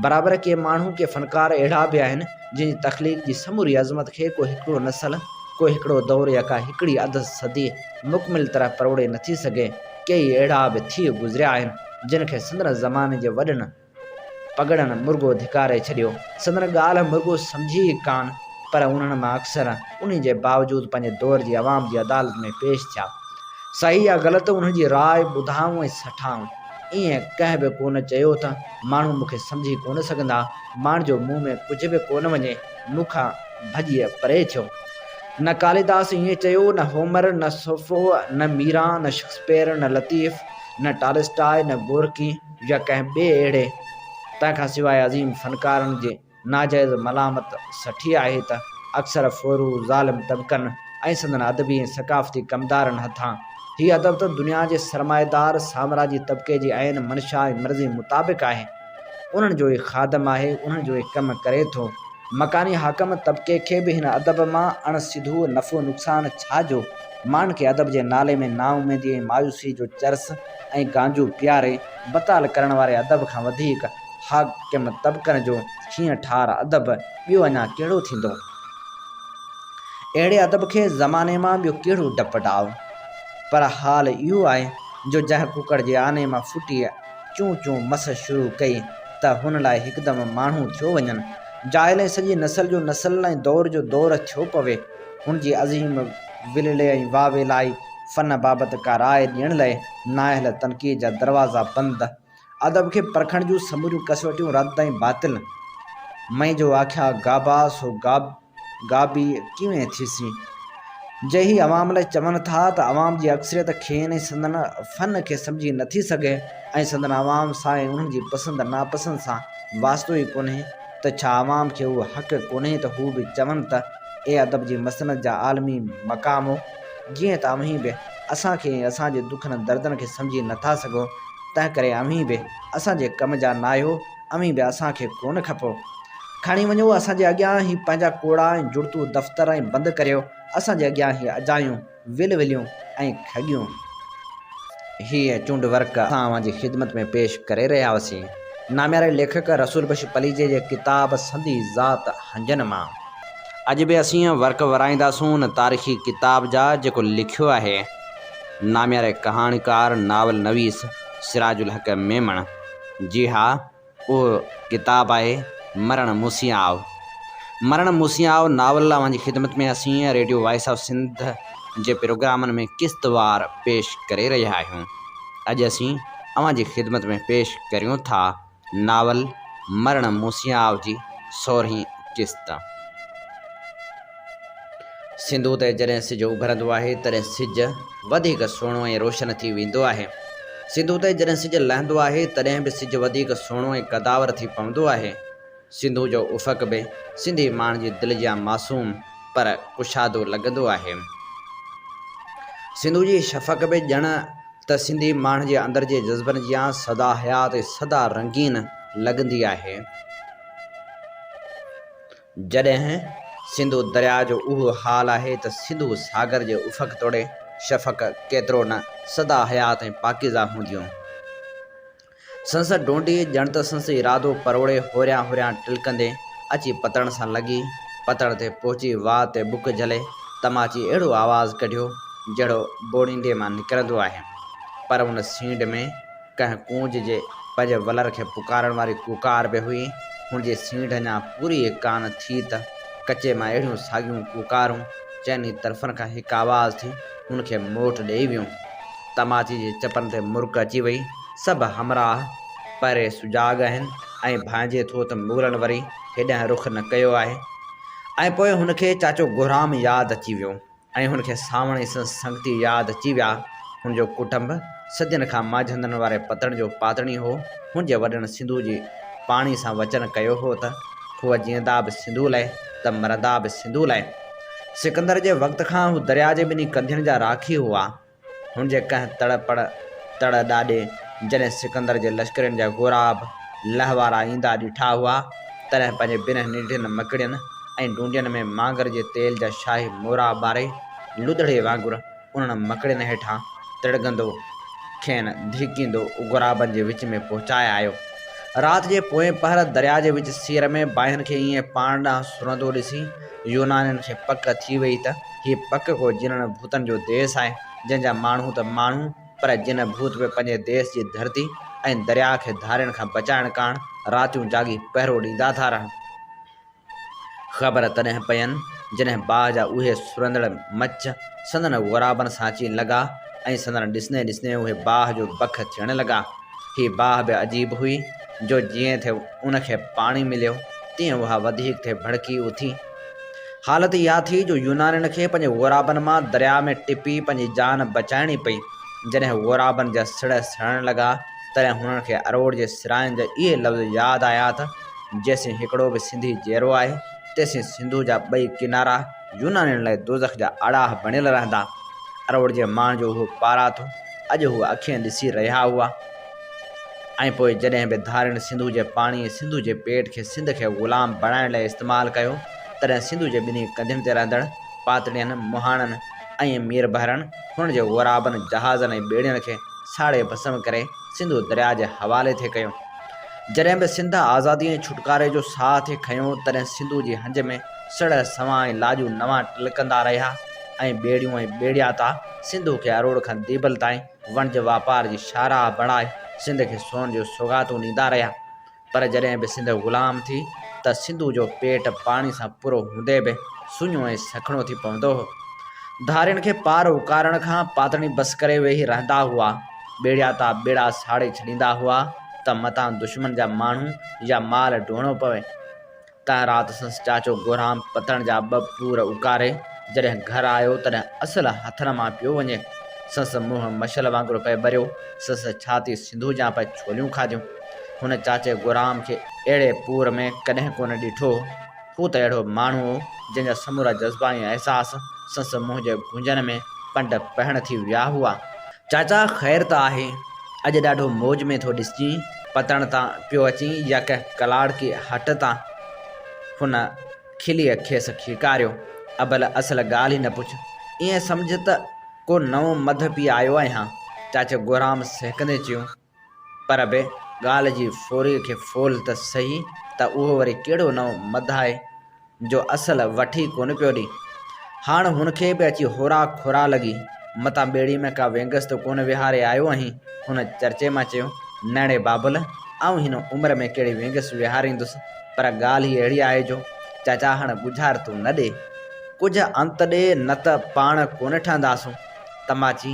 برابر ڪي ماڻهو، ڪي فنڪار اهڙا به آهن، جن جي تخليق جي سموري عظمت کي ڪو هڪڙو نسل، ڪو هڪڙو دور يا ڪا هڪڙي اڌ صدي مڪمل طرح پروڙي نٿي سگهي. ڪيئي اهڙا به ٿي گذريا آهن، جن کي سندن زماني جي وڏن، پڳڙن مرڳو ڌڪاري ڇڏيو. سندن ڳالهه مرڳو سمجهي ئي ڪانه، پر انهن مان اڪثر انهي جي باوجود پنهنجي دور جي عوام جي عدالت ۾ پيش ٿيا. صحيح يا غلط انهن جي راء ٻڌائون ۽ سٺائون. ايئن ڪنهن به ڪونه چيو ته ماڻهو مون کي سمجهي ڪونه سگهندا. ماڻهن جو مون ۾ ڪجهه به ڪونه وڃي، مون کان ڀڄي پري ٿيو. نه ڪاليداس ايئن چيو، نه هومر، نه سوفو، نه ميران، نه شڪسپيئر، نه لطيف، نه ٽالسٽاء، نه گورڪي، يا ڪنهن ٻئي اهڙي تنهن کان سواء عظيم فنڪارن جي ناجائز ملامت سٺي آهي ته اڪثر ڦورو ظالم طبقن ۽ سندن ادبي ۽ ثقافتي ڪمدارن هٿان هي ادب ته دنيا جي سرمائيدار سامراجي طبقي جي عين منشا ۽ مرضي مطابق آهي انهن جو ئي خادم آهي انهن جو ئي ڪم ڪري ٿو مڪاني حاڪم طبقي کي به هن ادب مان اڻ سڌو نفعو نقصان ڇا جو ماڻهن کي ادب جي نالي ۾ نااميدي ۽ مايوسي جو چرس ۽ گانجو پياري بتال ڪرڻ واري ادب کان وڌيڪ حاڪم طبقن جو ڇينهن ٺار ادب ٻيو اڃا ڪهڙو ٿيندو؟ اهڙي ادب کي زماني مان ٻيو ڪهڙو ڊپ ڊاء؟ پر حال اهو آهي جو جنهن ڪڪڙ جي آني مان ڦٽي چون چون مس شروع ڪئي ته هن لاء هڪدم ماڻهو ٿيو وڃن جاهل ۽ سڄي نسل جو نسل ۽ دور جو دور ٿيو پوي هن جي عظيم ولولي ۽ واويلائي فن بابت ڪا راء ڏيڻ لئه نااهل تنقيد جا دروازا بند، ادب کي پرکڻ جون سموريون ڪسوٽيون رد ۽ باطل. مئي جو آکيا گابا سو گابي ڪيئن ٿيسين. جي هي عوام لئه چون ٿا ته عوام جي اڪثريت کين ۽ سندن فن کي سمجهي نٿي سگهي ۽ سندن عوام سان ۽ انهن جي پسند ناپسند سان واسطو ئي ڪونهي ته ڇا عوام کي اهو حق ڪونهي ته هو به چون ته اي ادب جي مسند جا عالمي مقامو جيئن ته اوهين به اسان کي ۽ اسان جي دکن ۽ دردن کي سمجهي نه ٿا سگهو، تنهنڪري اوهين به اسان جي ڪم جا ناهيو، اوهين به اسان کي ڪونه کپو. کڻي وڃو اسان جي اڳيان هي پنهنجا ڪوڙا ۽ جڙتو دفتر ۽ بند ڪريو اسان جي اڳيان هي اجايون، ول وليون ۽ کڳيون. هيء چونڊ ورق اسان اوهان جي خدمت ۾ پيش ڪري رهيا هئاسين. نامياري ليکڪ رسول بخش پليجي جي ڪتاب سندي ذات هنجن مان. اڄ به اسين اهي ورق ورائينداسون ان تاريخي ڪتاب جا جيڪو لکيو آهي نامياري ڪهاڻيڪار ناول نويس سراج الحق ميمڻ. جي ها اهو ڪتاب آهي مرڻ موسي آء. مرڻ موسي آء ناول اوهان جي خدمت ۾ اسين ريڊيو وائس آف سنڌ جي پروگرامن ۾ قسط وار پيش ڪري رهيا آهيون. اڄ اسين اوهان جي خدمت ۾ پيش ڪريون ٿا. ناول مرڻ موسياء جي سورهين قسط. سنڌو تي جڏهن سج اڀرندو آهي تڏهن سج وڌيڪ سهڻو ۽ روشن ٿي ويندو آهي. سنڌو تي جڏهن سج لهندو آهي تڏهن به سج وڌيڪ سهڻو ۽ قداور ٿي پوندو آهي. سنڌو جو افق به سنڌي ماڻهن جي دل جيان معصوم پر ڪشادو لڳندو آهي. سنڌو جي شفق به ڄڻ ته سنڌي ماڻهن جي اندر جي جذبن جيان سدا حيات ۽ سدا رنگين لڳندي آهي. جڏهن سنڌو درياء جو اهو حال آهي ته سنڌو ساگر جي افق توڙي شفق ڪيترو نه سدا حيات ۽ پاڪيزا هونديون. سندس ڍونڍي ڄڻ ته سندس ارادو پروڙي هوريان هوريان ٽلڪندي اچي پتڻ سان لڳي. پتڻ تي پهچي واء تي بک جهلي تماچي اهڙو آواز ڪڍيو جهڙو ٻوڙينڊي مان نڪرندو آهي. پر ان سينڍ ۾ ڪنهن ڪونج جي پنهنجي ولر کي پڪارڻ واري ڪوڪار به هئي. هن جي سينڍ اڃا پوري ئي ڪانه ٿي ته ڪچي مان اهڙيون ساڳيون ڪوڪارون چئني طرفن کان هڪ آواز ٿي هن کي موٽ ڏيئي ويون. تماچي جي چپن تي مرڪ اچي وئي. سڀ همراهه پهرين سجاڳ آهن ۽ ڀانئجي ٿو ته مغلن وري هيڏانهن رخ نه ڪيو آهي ۽ پوء هن کي چاچو گهرام ياد اچي ويو ۽ هن کي سانوڻ ۽ سندس سنگتي ياد اچي ويا. هن جو ڪٽنب صدين کان مانجهندڙن واري پتڻ جو پاتڻي هو. هن جي وڏن سنڌوء جي پاڻي سان وچن ڪيو هو ته هو جيئندا به سنڌوء لاء ته مرندا به سنڌوء لاء. سڪندر جي وقت کان هو درياء جي ٻنهي ڪنڌين جا راکي هئا. هن جي ڪنهن تڙ پڙ تڙ ڏاڏي جڏهن سڪندر جي لشڪرين جا غوراب لئه وارا ايندا ڏٺا هئا، تڏهن پنهنجي ٻنهن ننڍين مڪڙين ۽ ڊونڊين ۾ مانگر جي تيل جا شاهي مورا ٻاري، لڌڙي وانگر انهن مڪڙين هيٺان تڙڳندو، کين ڌرڪيندو غورابن جي وچ ۾ پهچائي آيو. رات جي پوئين پهر درياء جي وچ سير ۾ باهين کي ائين پاڻ ڏانهن سرندو ڏسي، يونانين کي پڪ ٿي وئي ته هي پڪ ڪو جنن ڀوتن جو ديس آهي، جن جا ماڻهو ته ماڻهو پر جن ڀوت به پنهنجي ديس جي ڌرتي ۽ درياء کي ڌارين کان بچائڻ ڪاڻ راتيون جاڳي پهرو ڏيندا ٿا رهن. خبر تڏهن پين جڏهن باهه جا اهي سرندڙ مچ سندن غرابن سان اچي لڳا ۽ سندن ڏسندي ڏسندي اهي باهه جو بک ٿيڻ لڳا. هي باهه به عجيب هئي جو جيئن ٿي ان کي پاڻي مليو تيئن اها وڌيڪ ٿي ڀڙڪي اٿي. حالت اها ٿي جو يونانين کي پنهنجي غورابن مان درياء ۾ ٽپي پنهنجي جان بچائڻي پئي. جڏهن غورابن جا سڙهه سڙڻ لڳا تڏهن هنن کي اروڙ جي سرائن جا اهي لفظ ياد آيا ته، جيسين هڪڙو به سنڌي جيئرو آهي، تيسين سنڌوء جا ٻئي ڪنارا، يونانين لاء دوزخ جا آڙاهه بڻيل رهندا. اروڙ جي ماڻهن جو اهو پارات هو. اڄ هو اکين ڏسي رهيا هئا ۽ پوء جڏهن به ڌارين سنڌوء جي پاڻي ۽ سنڌوء جي پيٽ کي سنڌ کي غلام بڻائڻ لاء استعمال ڪيو، تڏهن سنڌوء جي ٻنهي ڪنڌين تي رهندڙ پاتڙين، مهاڻن ۽ ميربحرن هنن جي غورابن، جهازن ۽ ٻيڙين کي ساڙي ڀسم ڪري سنڌو درياء جي حوالي ٿي ڪيو. جڏهن به سنڌ آزادي ۽ ڇوٽڪاري جو ساهه ٿي کنيو، تڏهن سنڌوء جي هنج ۾. سڙهه سنوان ۽ لاڄو نوان ٽلڪندا رهيا ۽ ٻيڙيون ۽ ٻيڙيا تا سنڌو کي اروڙ کان ديبل تائين وڻج واپار جي شاهراهه بڻائي سنڌ کي سون جون سوغاتون ڏيندا رهيا پر جڏهن به سنڌ غلام ٿي ته سنڌو جو پيٽ پاڻي سان پورو هوندي به سڃو ۽ سکڻو ٿي پوندو هو ڌارين کي پار اڪارڻ کان پاتڻي بس ڪري ويهي رهندا هئا ٻيڙيا تا ٻيڙا ساڙي ڇڏيندا هئا ته متان دشمن جا ماڻهو يا مال ڊوڙڻو پوي تنهن رات سندس چاچو گهرام پتڻ جا ٻه پور اڪاري جڏهن گهر آيو تڏهن اصل هٿن مان پيو وڃي. سندس منهن مشل وانگر پئي ٻريو، سندس ڇاتي سنڌو جيان پئي ڇوليون کاڌيون. هن چاچي گهرام کي اهڙي پور ۾ ڪڏهن ڪونه ڏٺو هو. هو ته اهڙو ماڻهو هو، جنهن جا سمورا جذبا ۽ احساس سندس منهن جي گونجن ۾ پنڊ پهڻ ٿي ويا هئا. چاچا خير ته آهي؟ اڄ ڏاڍو موج ۾ ٿو ڏسجين، پتڻ تان پيو اچين يا ڪنهن ڪلاڙ ڪي هٽ تان؟ هن کليء کيس کيڪاريو. ابل اصل ڳالهه ئي نه پڇ، ائين سمجهه ته ڪو نئون مڌ پي آيو آهيان. چاچي گورام سهڪندي چيو. پر به ڳالهه جي ڦوري کي ڦول ته سهي ته اهو وري ڪهڙو نئون مداح آهي جو اصل وٺي ڪونه پيو ڏئي. هاڻ هن کي به اچي هورا کورا لڳي، متان ٻيڙي ۾ ڪا وينگس ته ڪونه ويهاري آيو آهين؟ هن چرچي مان چيو، نئڙي بابل، آئون هن عمر ۾ ڪهڙي وينگس ويهاريندس، پر ڳالهه ئي اهڙي آهي جو چاچا هاڻ ڳجهار تون نه ڏي، ڪجهه انت ڏي نه ته پاڻ ڪونه ٺهنداسون. تماچي.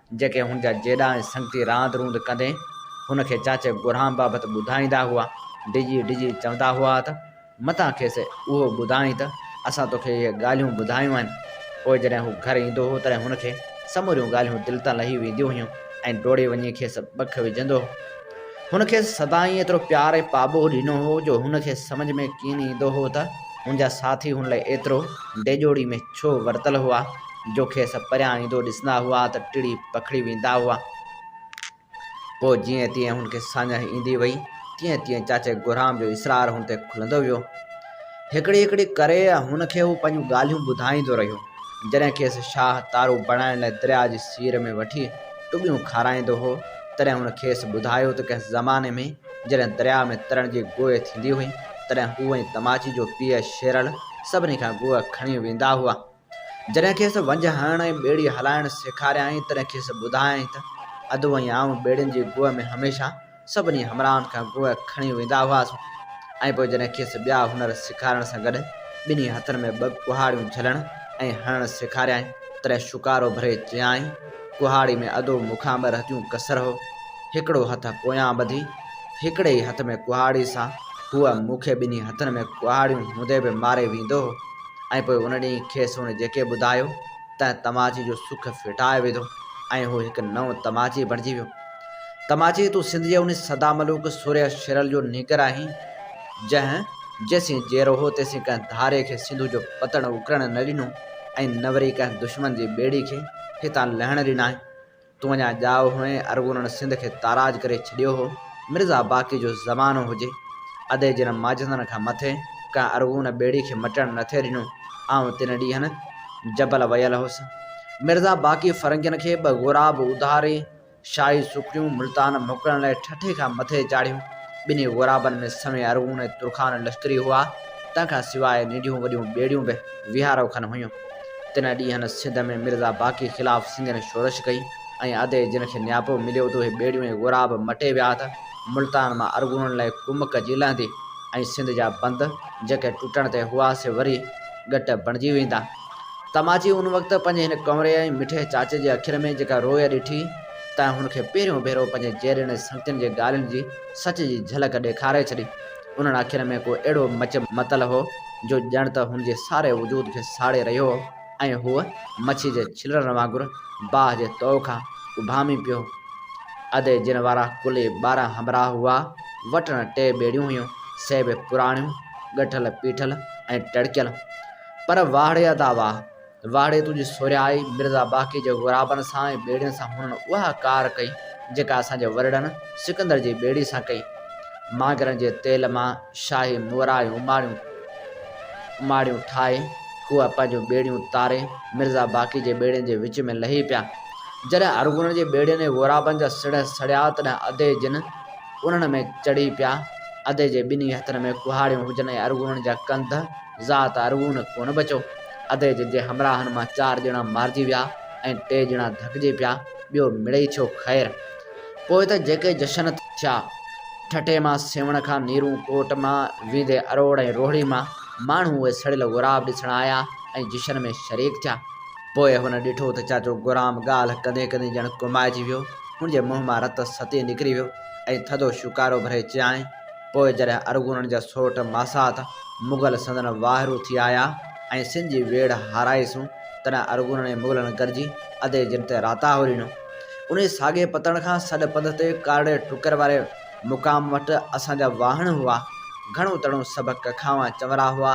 جيڪي هن جا جيڏا ۽ سنگتي راند روند ڪندي هن کي چاچي گرهام بابت ٻڌائيندا هئا، ڊڄي ڊڄي چوندا هئا ته، متان کيس اهو ٻڌائين ته اسان توکي اهي ڳالهيون ٻڌايون آهن. پوء جڏهن هو گهر ايندو هو تڏهن هن کي سموريون ڳالهيون دل تان لهي وينديون هيون ۽ ڊوڙي وڃي کيس ٻک وجهندو هو. هن کيس سدائين ايترو پيار ۽ پاٻوهه ڏنو هو جو هن کي سمجهه ۾ ڪين ايندو هو ته هن جا ساٿي هن لاء ايترو ڊيڄوڙي ۾ ڇو ورتل هئا. جو کيس پريان ايندو ڏسندا هئا ته ٽڙي پکڙي ويندا هئا. پوء جيئن تيئن هن کي ساڃاهه ايندي وئي، تيئن تيئن چاچي گهرام جو اصرار هن تي کلندو ويو. هڪڙي هڪڙي ڪري هن کي هو پنهنجون ڳالهيون ٻڌائيندو رهيو. جڏهن کيس شاهه تارو بڻائڻ لاء درياء جي سير ۾ وٺي ٽٻيون کارائيندو هو، تڏهن هن کيس ٻڌايو ته ڪنهن زماني ۾ جڏهن درياء ۾ ترڻ جي گوء ٿيندي هئي، تڏهن هو ۽ تماچي جو پيء شيرل سڀني کان گوء کڻي ويندا هئا. جڏهن کيس ونجهه هڻڻ ۽ ٻيڙي هلائڻ سيکاريائين، تڏهن کيس ٻڌايائين ته ادو ۽ آئون ٻيڙين جي گوء ۾ هميشه سڀني همراهن کان گوء کڻي ويندا هئاسون ۽ پوء جڏهن کيس ٻيا هنر سيکارڻ سان گڏ ٻنهي هٿن ۾ ٻه ڪهاڙيون جهلڻ ۽ هڻڻ سيکاريائين، تڏهن شڪارو ڀري چيائين، ڪهاڙي ۾ ادو مون کان ٻه رتيون ڪسر هو، هڪڙو هٿ پويان ٻڌي، هڪڙي ئي هٿ ۾ ڪهاڙي سان هوء مون کي ٻنهي هٿن ۾ ڪهاڙيون هوندي به ماري ويندو هو. ۽ پوء ان ڏينهن کيس هن جيڪي ٻڌايو تنهن تماچي جو سک ڦٽائي وڌو ۽ هو هڪ نئون تماچي بڻجي ويو. تماچي تون سنڌ جي ان سدا ملوڪ سورهيه شرل جو نيڪر آهين، جنهن جيسين جيئرو هو تيسين ڪنهن ڌاري کي سنڌو جو پتڻ اڪرڻ نه ڏنو ۽ نه وري ڪنهن دشمن جي ٻيڙي کي هتان لهڻ ڏنائين. تون اڃا ڄائو هئين، ارغونن سنڌ کي تاراج ڪري ڇڏيو هو. مرزا باقي جو زمانو هجي، ادي جن معجزن کان مٿي ڪنهن ارغون ٻيڙي کي مٽڻ نه ٿي ڏنو. آئون تن ڏينهن جبل ويل هوس. مرزا باقي فرنگين کي ٻه غوراب اڌاري، شاهي سوکڙيون، ملتان موڪلڻ لاء ٺٺي کان مٿي چاڙهيون. ٻنهي غورابن ۾ سوين ارغون ۽ ترخان لشڪري هئا. تنهن کان سواء ننڍيون وڏيون ٻيڙيون به ويهارو کن هيون. تنهن ڏينهن سنڌ ۾ مرزا باقي خلاف سنگين شورش ڪئي ۽ ادي جن کي نياپو مليو ته اهي ٻيڙيون ۽ غورا به مٽي ويا ته ملتان مان ارغونن لاء ڪمڪ جي لهندي ۽ سنڌ جا بند جيڪي ٽٽڻ تي هئا سي وري ڳٽ بڻجي ويندا. تماچي ان وقت پنهنجي هن ڪنوري ۽ مٺي چاچي جي اکين ۾ جيڪا روء ڏٺي تنهن هن کي پهريون ڀيرو پنهنجي جيئرين ۽ سنگتين جي ڳالهين جي سچ جي جهلڪ ڏيکاري ڇڏي. انهن اکين ۾ ڪو اهڙو مچ متل هو، جو ڄڻ ته هن جي ساري وجود کي ساڙي رهيو هو ۽ هو مڇي جي ڇلرن وانگر باهه جي تئو کان اڀامي پيو هو. ادي جن وارا ڪل ئي ٻارهن همراهه هئا، وٽن ٽي ٻيڙيون هيون، سي به پراڻيون، ڳٺل پيٺل ۽ ٽڙڪيل. پر واهڙي ادا واهه! واڙي تنهنجي سورهيائي مرزا باقي جي غرابن سان ۽ ٻيڙين سان هنن اها ڪار ڪئي جيڪا اسان جي ورڙن سڪندر جي ٻيڙي سان ڪئي مانگهرن جي تيل مان شاهي مورايون اماڙيون اماڙيون ٺاهي هو پنهنجون ٻيڙيون تاري مرزا باقي جي ٻيڙين جي وچ ۾ لهي پيا جڏهن ارغونن جي ٻيڙين ۽ غرابن جا سڙهه سڙيا تڏهن ادي جن انهن ۾ چڙهي پيا ادي جي ٻنهي هٿن ۾ ڪهاڙيون هجن ۽ ارغونن جا ڪنڌ ذات ارغون ڪونه بچو. ادي جن جي همراهن مان چار ڄڻا مارجي ويا ۽ ٽي ڄڻا ڌڪجي پيا، ٻيو مڙئي ٿيو خير. پوء ته جيڪي جشن ٿيا. ٺٽي مان سيوهڻ کان نيرون ڪوٽ مان ويندي اروڙ ۽ روهڙي مان ماڻهو اهي سڙيل غوراب ڏسڻ آيا ۽ جشن ۾ شريڪ ٿيا. پوء هن ڏٺو ته چاچو غورام ڳالهه ڪندي ڪندي ڄڻ ڪمائجي ويو. هن جي منهن مان رت ستي نڪري ويو ۽ ٿڌو شڪارو ڀري چيائين. پوء جڏهن ارغونن جا سوٽ ماسات مغل سندن واهرو ٿي آيا ۽ سن جي ويڙهه هارائي سون، تڏهن ارغونن ۽ مغلن گڏجي ادي جن تي راتاهو ڏنو. انهي ساڳئي پتڻ کان سڏ پنڌ تي ڪارڙي ٽڪر واري مقام وٽ اسان جا واهڻ هئا. گهڻو تڻو سڀ ڪکاوان چنورا هئا.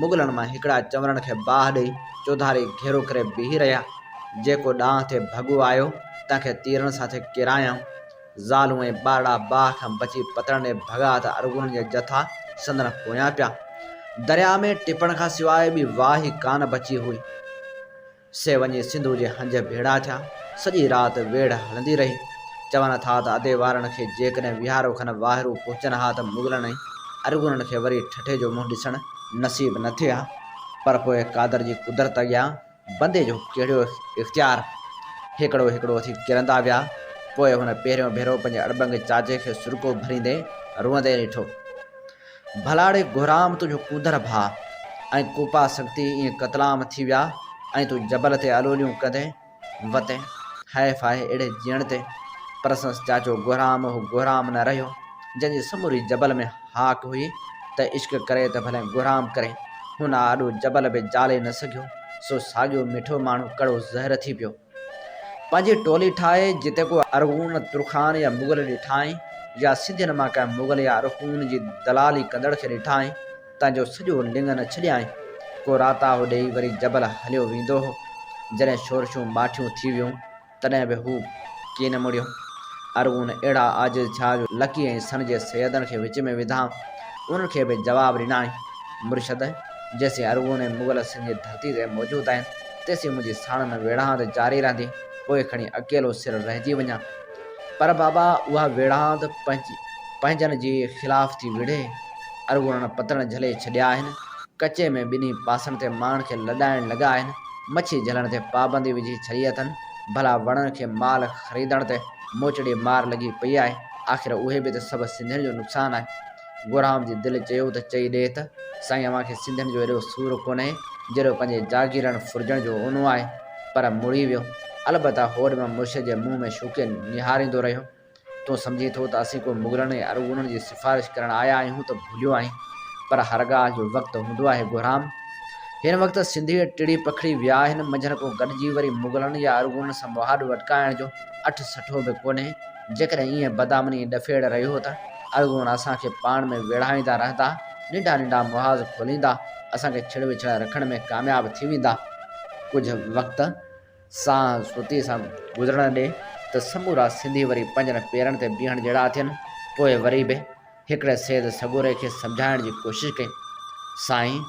مغلن مان هڪڙا چنورن کي باهه ڏئي چوڌاري گهيرو ڪري بيهي رهيا. جيڪو ڏانهن تي ڀڳو آيو، تنهن کي تيرن سان ٿي ڪيرايائون. زالون ۽ ٻارڙا باهه کان بچي پتڻ ڏي ڀڳا ته ارغونن جا جٿا سندن پويان پيا. درياء ۾ ٽپڻ کان سواء ٻي واهه ئي ڪانه بچي هئي. سي وڃي سنڌوء جي هنج ڀيڙا ٿيا. سڄي رات ويڙهه هلندي رهي. چون ٿا ته ادي وارن کي جيڪڏهن ويهارو کن واهرو پهچن ها ته مغلن ۽ ارغونن کي وري ٺٺي جو منهن ڏسڻ نصيب نه ٿئي ها. پر پوء قادر جي قدرت اڳيان بندي جو ڪهڙو اختيار؟ هيڪڙو هيڪڙو ٿي ڪرندا ويا. پوء هن پهريون ڀيرو پنهنجي اڙٻنگ چاچي کي سرڪو ڀريندي روئندي ڏٺو. ڀلاڙي گهرام تنهنجو ڪوندر ڀاء ۽ ڪوپا سنگتي ائين قتلام ٿي ويا ۽ تون جبل تي الوليون ڪندي وتين. هاء ڦاء اهڙي جيڻ تي! پر سندس چاچو گهرام اهو گهرام نه رهيو، جنهن جي سموري جبل ۾ هاڪ هئي ته عشق ڪري ته ڀلين گهرام ڪري، هن آڏو جبل به جالي نه سگهيو، سو ساڳيو مٺو ماڻهو ڪڙو زهر ٿي پيو. پنهنجي ٽولي ٺاهي جتي ڪو ارغون، ترخان يا مغل ڏٺائين يا سنڌين مان ڪنهن مغل يا ارغون جي دلالي ڪندڙ کي ڏٺائين، تنهن جو سڄو لڱ نه ڇڏيائين. ڪو راتاهو ڏيئي وري جبل هليو ويندو هو. جڏهن شورشون ماٺيون ٿي ويون تڏهن به هو ڪي نه مڙيو. ارغون اهڙا عاجز ٿيا جو لڪي ۽ سن جي سيدن کي وچ ۾ وڌا. انهن کي به جواب ڏنائين، مرشد! جيسين ارغون ۽ مغل سن جي ڌرتي تي موجود آهن، تيسين منهنجي ساڻن ويڙهاند جاري رهندي، پوء کڻي اڪيلو سر رهجي وڃان. پر بابا اها ويڙهاند پنهنجن جي خلاف ٿي وڙهي. ارغونن پتڻ جهلي ڇڏيا آهن. ڪچي ۾ ٻنهي پاسن تي ماڻهن کي لڏائڻ لڳا آهن. مڇي جهلڻ تي پابندي وجهي ڇڏي اٿن، ڀلا وڻن کي مال خريدڻ تي موچڙي مار لڳي پئي آهي، آخر اهي به ته سڀ سنڌين جو نقصان آهي. گورام جي دل چيو ته چئي ڏي ته سائين اوهان کي سنڌين جو ايڏو سور ڪونهي جيڏو پنهنجي جاگيرڻ ڦرجڻ جو اونو آهي. پر مڙي ويو. البته هوڏ مان مرشد جي منهن ۾ شوقين نهاريندو رهيو. تون سمجهين ٿو ته اسين ڪو مغلن ۽ ارغونن جي سفارش ڪرڻ آيا آهيون ته ڀليو آهين پر هر ڳالهه جو وقت هوندو آهي گهرام. هن وقت سنڌي ٽڙي پکڙي ويا آهن منجهن ڪو گڏجي وري مغلن يا ارغونن سان مهاڏو اٽڪائڻ جو اٺ سٺو به ڪونهي جيڪڏهن ايئن بدامني ۽ ڏڦيڙ رهيو ته ارغون اسان کي پاڻ ۾ ويڙهائيندا رهندا ننڍا ننڍا محاذ کوليندا اسان کي ڇڙ وڇڙائي رکڻ ۾ ڪامياب ٿي ويندا ڪجهه وقت سان سوتي سان گذرڻ ڏي ته سمورا سنڌي وري پنهنجن پيرن تي بيهڻ جهڙا ٿين. پوء وري به هڪڙي سيد سڳوري کي سمجهائڻ جي ڪوشش ڪئي، سائين!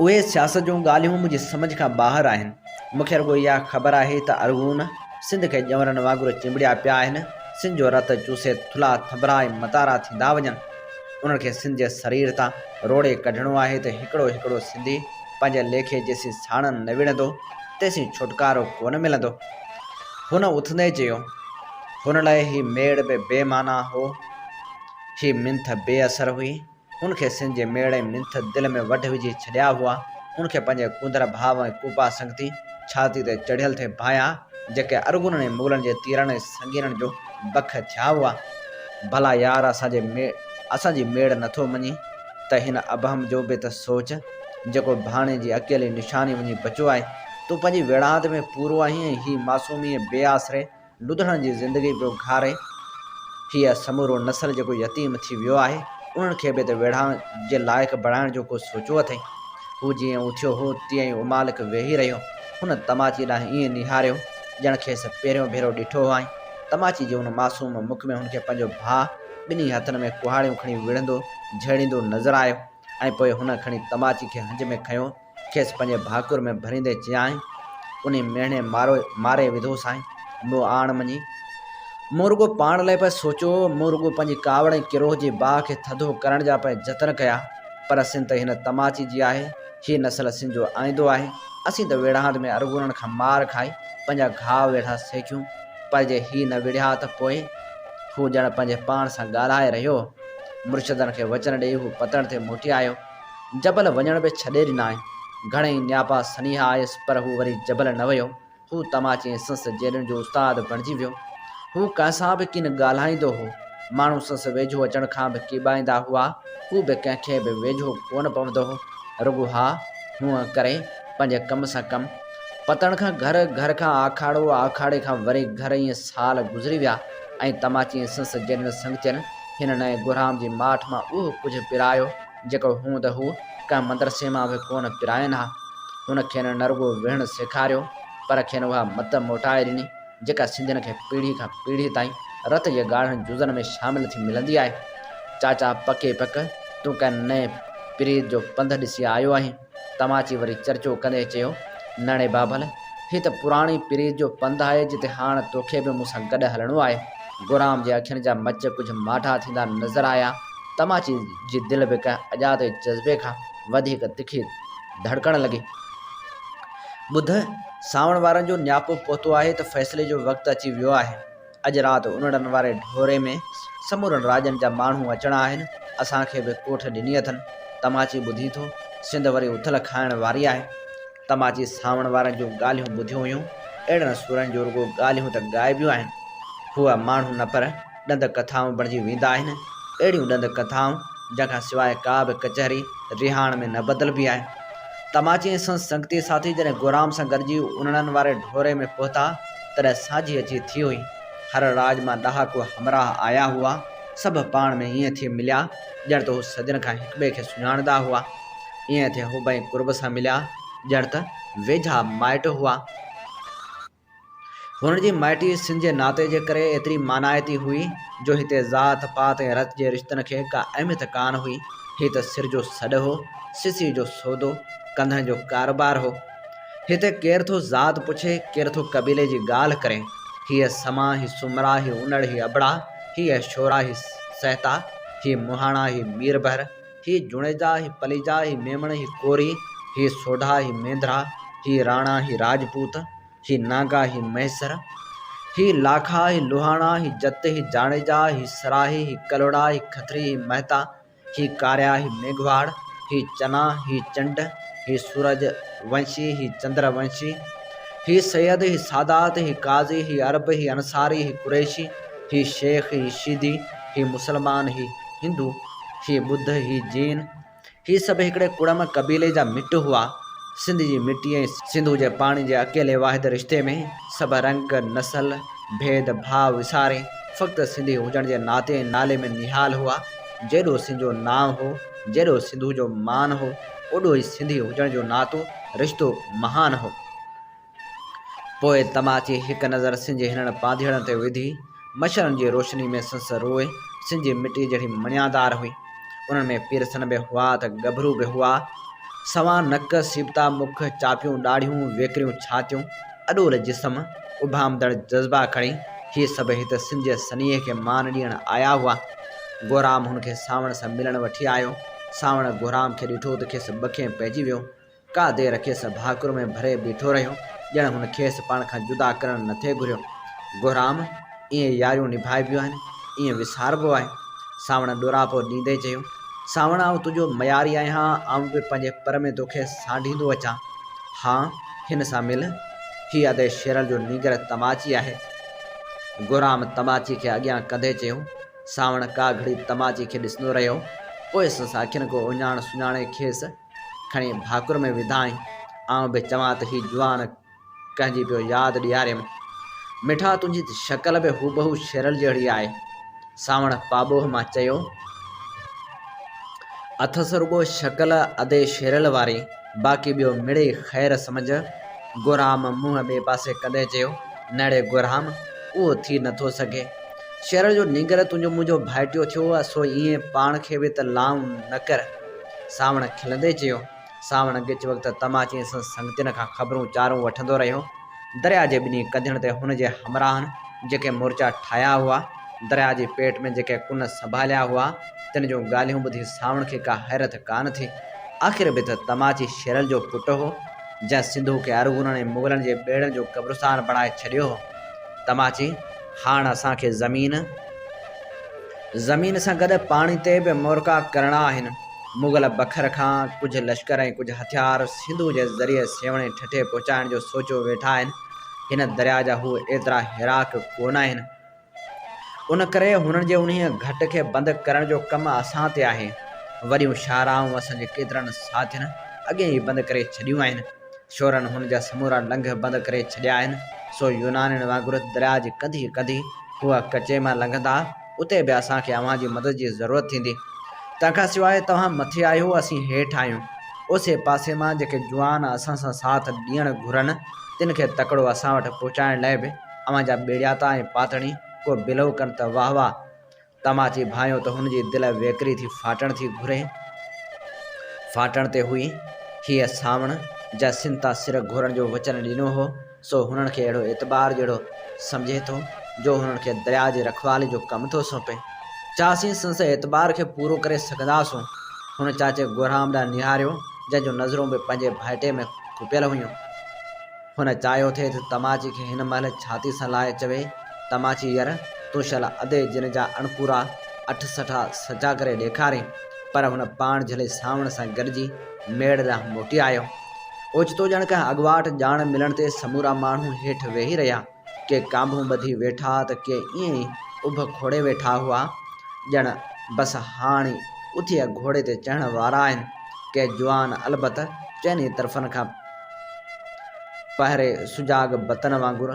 اهي سياست جون ڳالهيون منهنجي سمجهه کان ٻاهر آهن. مون کي رڳو اها خبر آهي ته ارغون سنڌ کي ڄؤنرن وانگر چنبڙيا پيا آهن، سنڌ جو رت چوسي ٿلها ٿڀرا ۽ متارا ٿيندا وڃن. انهن کي سنڌ جي سرير تان روڙي ڪڍڻو آهي ته هڪڙو هڪڙو سنڌي پنهنجي ليکي جيسين ساڻن نه وڙهندو، تيسين ڇوٽڪارو ڪونه ملندو. هن اٿندي چيو، هن لاء هي ميڙ به بي معنيٰ هو. هي منٿ بي اثر هئي. هن کي سن جي ميڙ ۽ منٿ دل ۾ وڍ وجهي ڇڏيا هئا. هن کي پنهنجي ڪونڌر ڀاء ۽ ڪوپا سنگتي ڇاتي تي چڙهيل ٿي ڀانئيا، جيڪي ارغونن ۽ مغلن جي تيرن ۽ سنگينن جو بک ٿيا هئا. ڀلا يار اسان جي اسان جي ميڙ نٿو مڃين؟ ته هن ابهم جو به ته سوچ، جيڪو ڀاڻي جي اڪيلي نشاني وڃي بچيو آهي. تون پنهنجي ويڙهاند ۾ پورو آهين ۽ هي معصومي ۽ بي آسري لڌڻ جي زندگي پيو گهارين. هيء سمورو نسل جيڪو يتيم ٿي ويو آهي، انهن کي به ته ويڙهاند جي لائق بڻائڻ جو ڪو سوچيو اٿئي؟ هو جيئن اٿيو هو، تيئن ئي امالڪ ويهي رهيو. هن تماچيء ڏانهن ائين نهاريو، ڄڻ کيس پهريون ڀيرو ڏٺو هئائين. تماچي جي ان معصوم مک ۾ هن کي پنهنجو ڀاء، ٻنهي هٿن ۾ ڪهاڙيون کڻي وڙهندو جهيڙيندو نظر آيو ۽ پوء هن کڻي تماچي کي هنج ۾ کنيو، کيس پنهنجي ڀاڪر ۾ ڀريندي چيائين، انهي ميڻي مارو ماري وڌو سائين، مون آڻ مڃي. مون رڳو پاڻ لاء پئي سوچيو، مون رڳو پنهنجي ڪاوڙ ۽ ڪروهه جي باهه کي ٿڌو ڪرڻ جا پئي جتن ڪيا، پر سنڌ ته هن تماچي جي آهي، هيء نسل سنڌ جو آئيندو آهي، اسين ته ويڙهاند ۾ ارغونن کان مار کائي پنهنجا گهاء ويڙها سيڪيون. پر جي هي نه وڙهيا ها ته پوء؟ هو ڄڻ پنهنجي پاڻ سان ڳالهائي رهيو هو. مرشدن کي وچن ڏيئي هو پتڻ تي موٽي آيو. جبل وڃڻ به ڇڏي ڏنائين. گهڻيئي نياپا سنيها آيس پر هو وري جبل نه ويو. هو تماچي ۽ سنس جيلين جو استاد بڻجي ويو. هو ڪنهن سان به ڪين ڳالهائيندو هو. ماڻهو سنس ويجهو اچڻ کان به ڪيٻائيندا هئا. هو به ڪنهن کي به ويجهو ڪونه پوندو هو. رڳو ها هونء ڪري پنهنجي ڪم سان ڪم. پتڻ کان گهر، گهر کان آکاڙو، آکاڙي کان وري گهر ائين سال گذري ويا ۽ تماچي ۽ سنس جهڙين سنگتين هن نئين گهرام جي ماٺ مان اهو ڪجهه پرايو جيڪو هوند هو ڪنهن مدرسي مان به ڪونه پراين ها. هن کين نه رڳو ويهڻ سيکاريو پر کين اها مت موٽائي ڏني جيڪا سنڌين کي پيڙهي کان پيڙهي تائين رت جي ڳاڙهن جزن ۾ شامل ٿي ملندي آهي. چاچا پڪ ئي پڪ تون ڪنهن نئين پريت جو پنڌ ڏسي آيو آهين. تماچي وري چرچو ڪندي چيو، ناڻي بابل، هي ته پراڻي پريت جو پنڌ آهي جتي هاڻ توکي به مون سان گڏ هلڻو آهي. گورام جي اکين جا مچ ڪجهه ماٺا ٿيندا نظر آيا. تماچي جي دل به ڪنهن اڄاتي جذبي کان وڌيڪ تکي ڌڙڪڻ لڳي. ٻڌ، سانوڻ وارن جو نياپو پهتو آهي ته فيصلي جو وقت اچي ويو آهي. اڄ رات انڙن واري ڍوري ۾ سمورن راڄن جا ماڻهو اچڻا آهن، اسان کي به ڪوٺ ڏني اٿن، تماچي ٻڌين ٿو، سنڌ وري اٿل کائڻ واري آهي. تماچي سانوڻ وارن جون ڳالهيون ٻڌيون هيون، اهڙن سورن جون رڳو ڳالهيون ته ڳائبيون آهن. هو ماڻهو نه پر ڏند ڪٿائون بڻجي ويندا آهن، اهڙيون ڏند ڪٿائون جنهن کان سواء ڪا به ڪچهري رهاڻ ۾ نه بدلبي آهي. تماچي ۽ سندس سنگتي ساٿي جڏهن گورام سان گڏجي انڙن واري ڍوري ۾ پهتا، تڏهن ساجهي اچي ٿي هئي. هر راڄ مان ڏهاڪو همراهه آيا هئا. سڀ پاڻ ۾ ائين ٿي مليا، ڄڻ ته هو سڄڻ کان هڪٻئي کي سڃاڻندا هئا. ائين ٿي هو بئي قرب سان مليا، ڄڻ ته ويجها مائٽ هئا. هنن جي مائٽي سن جي ناتي جي ڪري ايتري مانائتي هئي، جو هتي ذات پات ۽ رت جي رشتن کي ڪا اهميت ڪانه هئي. هي ته سر جو سڏ هو، سسي جو سودو، ڪنڌن جو ڪاروبار هو. هتي ڪير ٿو ذات پڇي، ڪير ٿو قبيلي جي ڳالهه ڪري، هيء سما، هي سومرا، هي انڙ، هي ابڙا، هي اشورا، هي سهتا، هي مهاڻا، هي ميربحر، هي جوڻيجا، هي پليجا، هي ميمڻ، هي ڪوري، هي سوڍا، هي مينڌرا، هي راڻا، هي راجپوت، هي ناگا، هي مهيسر، هي لاکا، هي لوهاڻا، هي جت، هي جاڻيجا، هي سراهي، هي ڪلهوڙا، هي کٿري، هي مهتا، هي ڪاريا، هي ميگهواڙ، هي چنا، هي چنڊ، هي سورج ونشي، هي چندر ونشي، هي سيد، هي سادات، هي قاضي، هي عرب، هي انصاري، هي قريشي، هي شيخ، هي شيدي، هي مسلمان، هي هندو، هي ٻڌ، هي جين، هي سڀ هڪڙي ڪڙم قبيلي جا مٽ هئا. سنڌ جي مٽي ۽ سنڌو جي پاڻي جي اڪيلي واحد رشتي ۾ سڀ رنگ، نسل، ڀيد ڀاء وساري فقط سنڌي هجڻ جي ناتي ۽ نالي ۾ نهال هئا. جيڏو سنڌ جو نانء هو، جيڏو سنڌوء جو مان هو، اوڏو ئي سنڌي هجڻ جو ناتو، رشتو، مهان هو. پوء تم اچي هڪ نظر سنڌ جي هنن پانڌيئڙن تي وڌي. مشعلن جي روشني ۾ سندس روح سنڌ جي مٽيء جهڙي مڻيادار هئي. انهن ۾ پيرسن به هئا ته ڳڀرو به هئا. سوان نڪ، سيبتا مک، چاپيون ڏاڙهيون، ويڪريون ڇاتيون. اڏول جسم، اڀامندڙ جذبا کڻي هي سڀ هت سنڌ جي سنيهي کي مان ڏيڻ آيا هئا. گهرام هن کي سانوڻ سان ملڻ وٺي آيو. سانوڻ گهرام کي ڏٺو ته کيس ٻکيم پئجي ويو. ڪا دير کيس ڀاڪر ۾ ڀري بيٺو رهيو، ڄڻ هن کيس پاڻ کان جدا ڪرڻ نٿي گهريو. گهرام! ائين ياريون نڀائبيون آهن، ائين وساربو آهي. سانوڻ ڏوراپو ڏيندي چيو، سانوڻ آئون تنهنجو مياري آهيان، آئون به پنهنجي پر ۾ توکي سانڍيندو اچان. ها، هن سان مل. هي ادي شيرل جو نينگر تماچي آهي. گهرام تماچي کي اڳيان ڪندي چيو. سانوڻ ڪا گهڙي تماچي کي ڏسندو رهيو. پوء سندس اکين ڪو اهڃاڻ سڃاڻي کيس کڻي ڀاڪر ۾ وڌائين. آئون به چوان ته هي جوان ڪنهن جي پيو ياد ڏياريم. مٺا تنهنجي ته شڪل به هوبهو شيرل جهڙي آهي. سانوڻ پاٻوهه مان چيو. اٿس رڳو شڪل ادي شيرل واري، باقي ٻيو مڙئي خير سمجهه. گهرام منهن ٻئي پاسي ڪندي چيو. نڙي گهرام، اهو ٿي نٿو سگهي. شيرل جو نينگر تنهنجو منهنجو ڀائٽيو ٿيو، سو ائين پاڻ کي به ته لانء نه ڪر. سانوڻ کلندي چيو. سانوڻ ڳچ وقت تماچي ۽ سندس سنگتين کان خبرون چارون وٺندو رهيو. درياء جي ٻنهي ڪنڌين تي هن جي همراهن جيڪي مورچا ٺاهيا هئا، درياء جي پيٽ ۾ جيڪي ڪن سنڀاليا هئا، تن جون ڳالهيون ٻڌي سانوڻ کي ڪا حيرت ڪانه ٿي. آخر به ته تماچي شيرل جو پٽ هو، جنهن سنڌوء کي ارغونن ۽ مغلن جي ٻيڙن جو قبرستان بڻائي ڇڏيو هو. تماچي، هاڻ اسان کي زمين، زمين سان گڏ پاڻي تي به مورڪا ڪرڻا آهن. مغل بکر کان ڪجهه لشڪر ۽ ڪجهه هٿيار سنڌوء جي ذريعي سيوهڻي ٺٽي پهچائڻ جو سوچيو ويٺا آهن. هن درياء جا هو ايترا هيراڪ ڪونه آهن. ان ڪري هنن جي انهيء گهٽ کي بند ڪرڻ جو ڪم اسان تي آهي. وڏيون شاهراهون اسان جي ڪيترن ساٿين اڳيئي ئي بند ڪري ڇڏيون آهن. شورن هن جا سمورا لنگهه بند ڪري ڇڏيا آهن، سو يونانين وانگر درياء جي ڪنڌي ڪنڌي هو ڪچي مان لنگهندا. اتي به اسان کي اوهان جي مدد جي ضرورت ٿيندي. تنهن کان سواء توهان مٿي آهيو، اسين هيٺ آهيون. اوسي پاسي مان جيڪي جوان اسان سان ساٿ ڏيڻ گهرن، تن کي تڪڙو اسان وٽ پهچائڻ لاء به اوهان جا ٻيڙياتا ۽ پاتڻي ڪو بلو ڪن ته واهه واهه. تماچي ڀانيو ته هن جي دل ويڪري ٿي ڦاٽڻ ٿي گهري. ڦاٽڻ تي هئي. هيء سانوڻ، جنهن سنڌ تان سر گهورڻ جو وچن ڏنو هو، سو هنن کي اهڙو اعتبار جهڙو سمجهي ٿو، جو هنن کي درياء جي رکوالي جو ڪم ٿو سونپي، ڇا اسين سندس اعتبار کي پورو ڪري سگهنداسون؟ هن چاچي گهرام ڏانهن نهاريو، جنهن جون نظرون به پنهنجي ڀائٽي ۾ کپيل هيون. هن چاهيو ٿي ته تماچي کي هن مهل ڇاتي سان لائي چوي، تماچي ير، تون شل ادي جن جا اڻپورا اٺ سٺا سچا ڪري ڏيکارين. پر هن پاڻ جهلي سانوڻ سان گڏجي ميڙ ڏانهن موٽي آيو. اوچتو ڄڻ ڪنهن اڳواٽ ڄاڻ ملڻ تي سمورا ماڻهو هيٺ ويهي رهيا. ڪي ڪانڀون ٻڌي ويٺا ته ڪي ائين ئي اڀ کوڙي ويٺا هئا، ڄڻ بس هاڻ ئي اٿي گهوڙي تي چڙهڻ وارا آهن. ڪي جوان البت چئني طرفن کان پهري سجاڳ بتن وانگر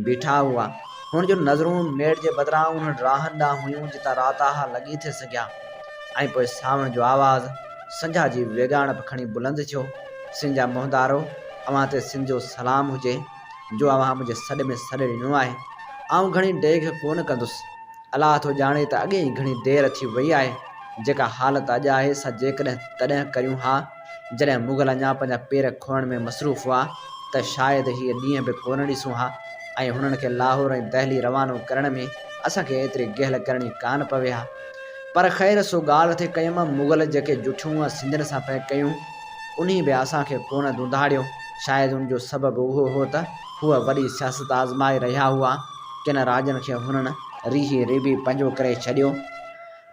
بيٺا هئا. هن جون نظرون ميڙ جي بدران انهن راهن ڏانهن هيون جتان رات آهه لڳي ٿي سگهيا. ۽ پوء سانوڻ جو آواز سنجهه جي ويڳاڻپ کڻي بلند ٿيو، سن جا موهندارو، اوهان تي سن جو سلام هجي، جو اوهان منهنجي سڏ ۾ سڏ ڏنو آهي. آئون گهڻي ڊيگهه ڪونه ڪندس. الله ٿو ڄاڻي ته اڳي ئي گهڻي دير ٿي وئي آهي. جيڪا حالت اڄ آهي سا جيڪڏهن تڏهن ڪريون ها. جڏهن مغل اڃا پنهنجا پير کوڙڻ ۾ مصروف هئا ته شايد هي ڏينهن به ڪونه ڏسون ها ۽ هنن کي لاهور ۽ دهلي روانو ڪرڻ ۾ اسان کي ايتري گهل ڪرڻي ڪانه پوي ها. پر خير سو ڳالهه ٿي ڪيم مغل جيڪي جٺيون سنڌين سان پئي ڪيون انهي به اسان کي ڪونه ڌونڌاڙيو شايد ان جو سبب اهو هو ته هو وڏي سياست آزمائي رهيا هئا ڪن راڄن کي هنن ريهي ريبي پنهنجو ڪري ڇڏيو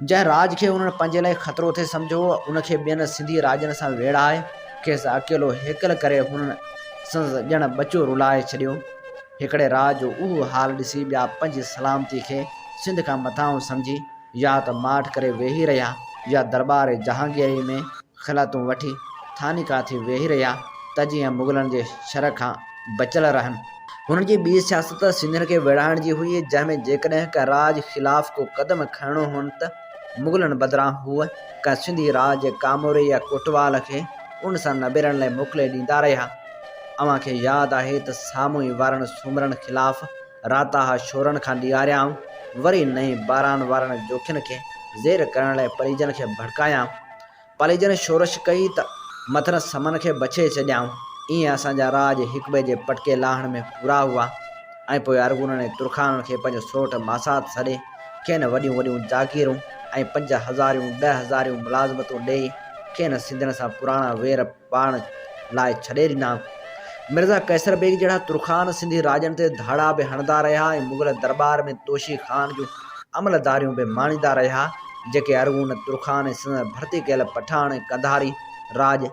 جنهن راڄ کي انهن پنهنجي لاء خطرو ٿي سمجهيو هو، ان کي ٻين سنڌي راڄن سان ويڙهائي، کيس اڪيلو هيڪل ڪري هنن سندس ڄڻ ٻچو رلائي ڇڏيو. هڪڙي راڄ جو اهو حال ڏسي ٻيا پنهنجي سلامتيء کي سنڌ کان مٿانهون سمجهي يا ته ماٺ ڪري ويهي رهيا يا درٻار جهانگيريء ۾، خلعتون وٺي ٿاني ڪاٿي ويهي رهيا ته جيئن مغلن جي شر کان بچيل رهن. هنن جي ٻي سياست سنڌين کي ويڙهائڻ جي هئي، جنهن ۾ جيڪڏهن ڪنهن راڄ خلاف ڪو قدم کڻڻو هئن ته مغلن بدران هو ڪنهن سنڌي راڄ، ڪاموري يا ڪوٽوال کي ان سان نبيرڻ لاء موڪلي ڏيندا رهيا. اوهان کي ياد آهي ته سامونء وارن سومرن خلاف راتاها شورن کان ڏياريائون، وري نئين باران وارن جوکين کي زير ڪرڻ لاء پريجن کي ڀڙڪايائون. پليجن شورش ڪئي ته مٿن سمن کي بڇي ڇڏيائون. ايئن اسان جا راڄ هڪٻئي جي پٽڪي لاهڻ ۾ پورا هئا ۽ پوء ارغونن ۽ ترخانن کي پنهنجو سورٺ ماسات سڏي کين وڏيون وڏيون جاگيرون ۽ پنج هزاريون ڏهه هزاريون ملازمتون ڏيئي کين سنڌين سان پراڻا وير پاڻ لاء ڇڏي ڏنا. مرزا قيصر بيگ جهڙا ترخان سنڌي راڄن تي ڌاڙا به هڻندا رهيا ۽ مغل درٻار ۾ توشي خان جون عملداريون به ماڻيندا رهيا، جيڪي ارغون، ترخان ۽ سندن ڀرتي ڪيل پٺاڻ ۽ قنڌاري راڄ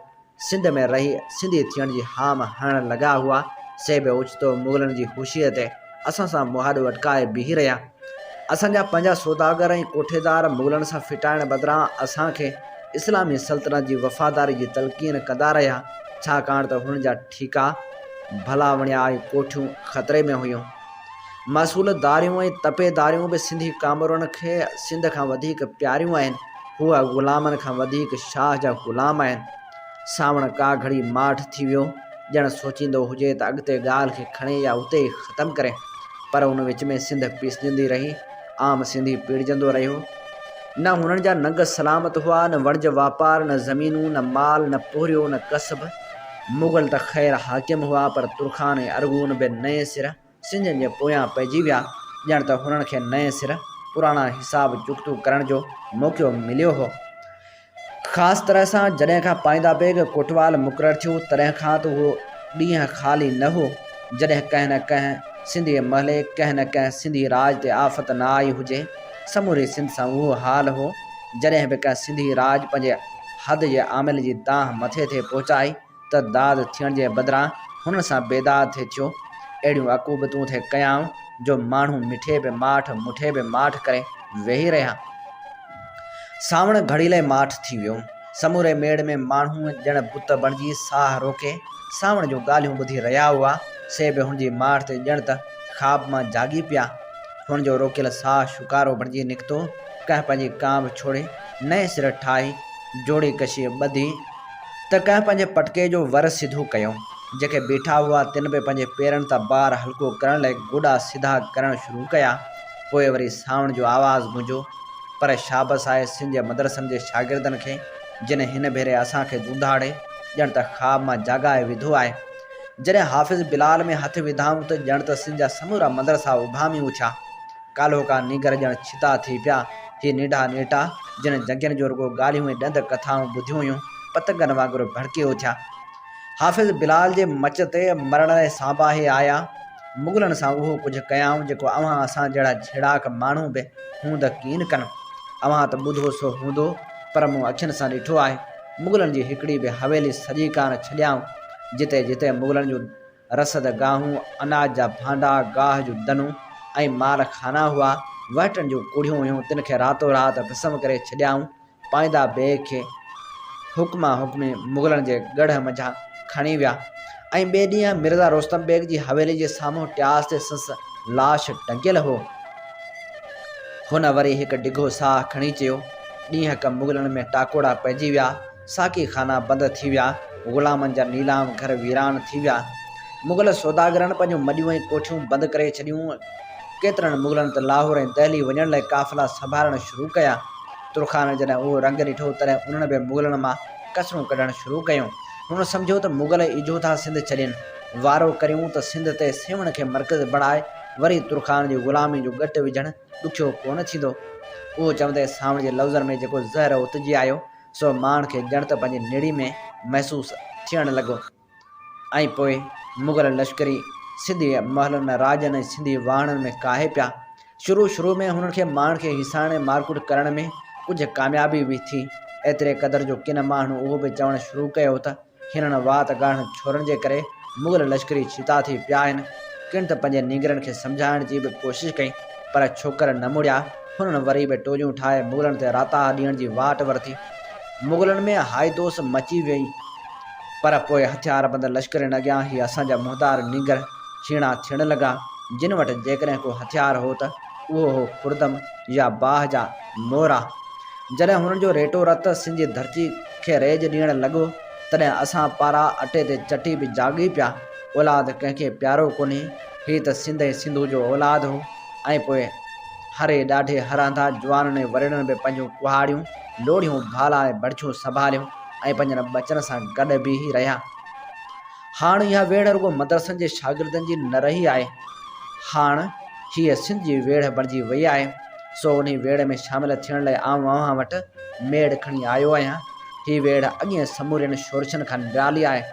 سنڌ ۾ رهي سنڌي ٿيڻ جي هام هڻڻ لڳا هئا، سي به اوچتو مغلن جي هوشيء تي. اسان سان مهاڏ وٽڪائي بيهي رهيا. اسان جا پنهنجا سوداگر ۽ ڪوٺيدار مغلن سان ڦٽائڻ بدران اسان کي اسلامي سلطنت جي وفاداري جي تلقين ڪندا رهيا، ڇاڪاڻ ته هنن جا ٺيڪا، ڀلا وڻيا ۽ ڪوٺيون خطري ۾ هيون. محصول داريون ۽ تپي داريون به سنڌي ڪامورن کي سنڌ کان وڌيڪ پياريون آهن. هو غلامن کان وڌيڪ شاهه جا غلام آهن. سانوڻ ڪا گهڙي ماٺ ٿي ويو، ڄڻ سوچيندو هجي ته اڳتي ڳالهه کي کڻي يا اتي ئي ختم ڪري، پر ان وچ ۾ سنڌ پيسجندي رهي، عام سنڌي پيڙجندو رهيو. نه هنن جا ننگ سلامت هئا، نه وڻج واپار، نه زمينون، نه مال، نه پورهيو، نه ڪسب. مغل ته خير حاڪم هئا، پر ترخان ۽ ارغون به نئين سر. سنڌين جي پويان پئجي ويا، ڄڻ ته هنن کي نئين سر پراڻا حساب چڪتون ڪرڻ جو موقعو مليو هو. خاص طرح سان جڏهن کان پائيندا بيگ ڪوٽوال مقرر ٿيو، تڏهن کان ته اهو ڏينهن خالي نه هو، جڏهن ڪنهن نه ڪنهن سنڌي محلي، ڪنهن نه ڪنهن سنڌي راڄ تي آفت نه آئي هجي. سموري سنڌ سان اهو حال هو، جڏهن به ڪنهن سنڌي راڄ پنهنجي حد جي عامل جي دانهن مٿي تي پهچائي، ته داد ٿيڻ جي بدران هنن سان بيداد ٿي ٿيو. اهڙيون عقوبتون ٿي ڪيائون جو ماڻهو مٺي به ماٺ، مٺي به ماٺ ڪري ويهي رهيا. سانوڻ گهڙيلي ماٺ ٿي ويو. سموري ميڙ ۾ ماڻهو ڄڻ بت بڻجي ساهه روڪي سانوڻ جون ڳالهيون ٻڌي رهيا هئا. سي به هن جي ماٺ تي ڄڻ ته خواب مان جاڳي پيا. هن جو روڪيل ساهه شڪارو بڻجي نڪتو. ڪنهن پنهنجي ڪانڀ ڇوڙي نئين سر ٺاهي جوڙي ڪشي ٻڌي. ته ڪنهن پنهنجي پٽڪي جو ور سڌو ڪيو. جيڪي بيٺا هئا تن به پنهنجي پيرن تان بار هلڪو ڪرڻ لئي گوڏا سڌا ڪرڻ شروع ڪيا. پوء وري سانوڻ جو آواز گونجيو. پر شابس آهي سنڌ جي مدرسن جي شاگردن کي جن هن ڀيري اسان کي دونڌاڙي ڄڻ ته خواب مان جاڳائي وڌو آهي. جڏهن حافظ بلال ۾ هٿ وڌائون ته ڄڻ ته سنڌ جا سمورا مدرسا اڀامي اٿيا. ڪالهوڪا نينگر ڄڻ ڇتا ٿي پيا. هي نيڍا نيٽا، جن جڳين جو رڳو ڳالهيون ۽ ڏند ڪٿائون ٻڌيون هيون، پتنگن وانگر ڀڙڪي اٿيا. حافظ بلال جي مچ تي مرڻ لاء سانباهي آيا. مغلن سان اهو ڪجهه ڪيائون، جيڪو اوهان اسان جهڙا جهيڙاڪ ماڻهو به هوند ڪين ڪن. اوهان ته ٻڌو سو هوندو، پر مون اکين سان ڏٺو آهي. مغلن جي هڪڙي به حويلي سڄي ڪانه ڇڏيائون، جتي جتي مغلن جون. رسد گاهون، اناج جا ڀانڊا، گاهه جون دنون ۽ مال خانا هئا. وهٽن جون ڪڙهيون هيون، تن کي راتو رات ڀسم ڪري ڇڏيائون. پائيندا بيگ کي حڪما حڪمي مغلن جي ڳڙهه منجهان کڻي ويا ۽ ٻئي ڏينهن مرزا رستم بيگ جي حويلي جي سامهون ٽياس تي سنس لاش ٽنگيل هو. هن وري هڪ ڊگهو ساهه کڻي چيو، ڏينهڪ مغلن ۾ ٽاڪوڙا پئجي ويا. ساقي خانا بند ٿي ويا، غلامن جا نيلام گهر ويران ٿي ويا، مغل سوداگرن پنهنجون مڏيون ۽ ڪوٺيون بند ڪري ڇڏيون، ڪيترن مغلن ته لاهور ۽ دهلي وڃڻ لاء قافلا سنڀارڻ شروع ڪيا. ترخانن جڏهن اهو رنگ ڏٺو، تڏهن انهن به مغلن مان ڪسرون ڪڍڻ شروع ڪيون. هنن سمجهيو ته مغل ايجهو ٿا سنڌ ڇڏين، وارو ڪريون ته سنڌ تي سيوهڻ کي مرڪز بڻائي وري ترخانن جي غلامي جو ڳٽ وجهڻ ڏکيو ڪونه ٿيندو. اهو چوندي سانوڻ جي لفظن ۾ جيڪو زهر اوتجي آيو، سو ماڻهن کي ڄڻ ته پنهنجي نڙي ۾ محسوس ٿيڻ لڳو ۽ پوء مغل لشڪري سنڌي محلن ۾ راڄن ۽ سنڌي واهڻن ۾ ڪاهي پيا. شروع شروع ۾ هنن کي ماڻهن کي هيسائڻ ۽ مارڪوٽ ڪرڻ ۾ ڪجهه ڪاميابي به ٿي. ايتري قدر جو ڪن ماڻهن اهو به چوڻ شروع ڪيو ته. هينئرڻ وات ڳاڙهن ڇورن جي ڪري مغل لشڪري ڇتا ٿي پيا آهن. ڪن ته پنهنجي نينگرن کي سمجهائڻ جي به ڪوشش ڪئي، پر ڇوڪر نه مڙيا. هنن وري به ٽوليون ٺاهي مغلن تي راتاها ڏيڻ جي واٽ ورتي. مغلن ۾ هائي دوس مچي ويئي، پر پوء هٿياربند لشڪرين اڳيان هي اسان جا مهتار نينگر ڇيڻا ٿيڻ لڳا، جن وٽ جيڪڏهن ڪو هٿيار هو ته اهو هو خوردم يا باهه جا مورا. جڏهن هنن جو ريٽو رت سنڌ جي ڌرتي کي ريج ڏيڻ لڳو، تڏهن اسان پارا اٽي تي چٽي به جاڳي پيا، اولاد ڪنهن کي پيارو ڪونهي، هي ته سنڌ ۽ سنڌو جو اولاد هو ۽ پوء هري ڏاڍي هراندا جوانن ۽ وريڻن به پنهنجون ڪهاڙيون، لوڙهيون، ڀالا ۽ بڙڇون سنڀاليون ۽ پنهنجن ٻچن سان گڏ بيهي رهيا. هاڻ اها ويڙهه رڳو مدرسن جي شاگردن جي نه رهي آهي، هاڻ هيء سنڌ جي ويڙهه بڻجي وئي آهي، سو انهيء ويڙهه ۾ شامل ٿيڻ لاء آئون اوهان وٽ ميڙ کڻي آيو آهيان. هيء ويڙهه اڳين سمورين شورشن کان نرالي آهي.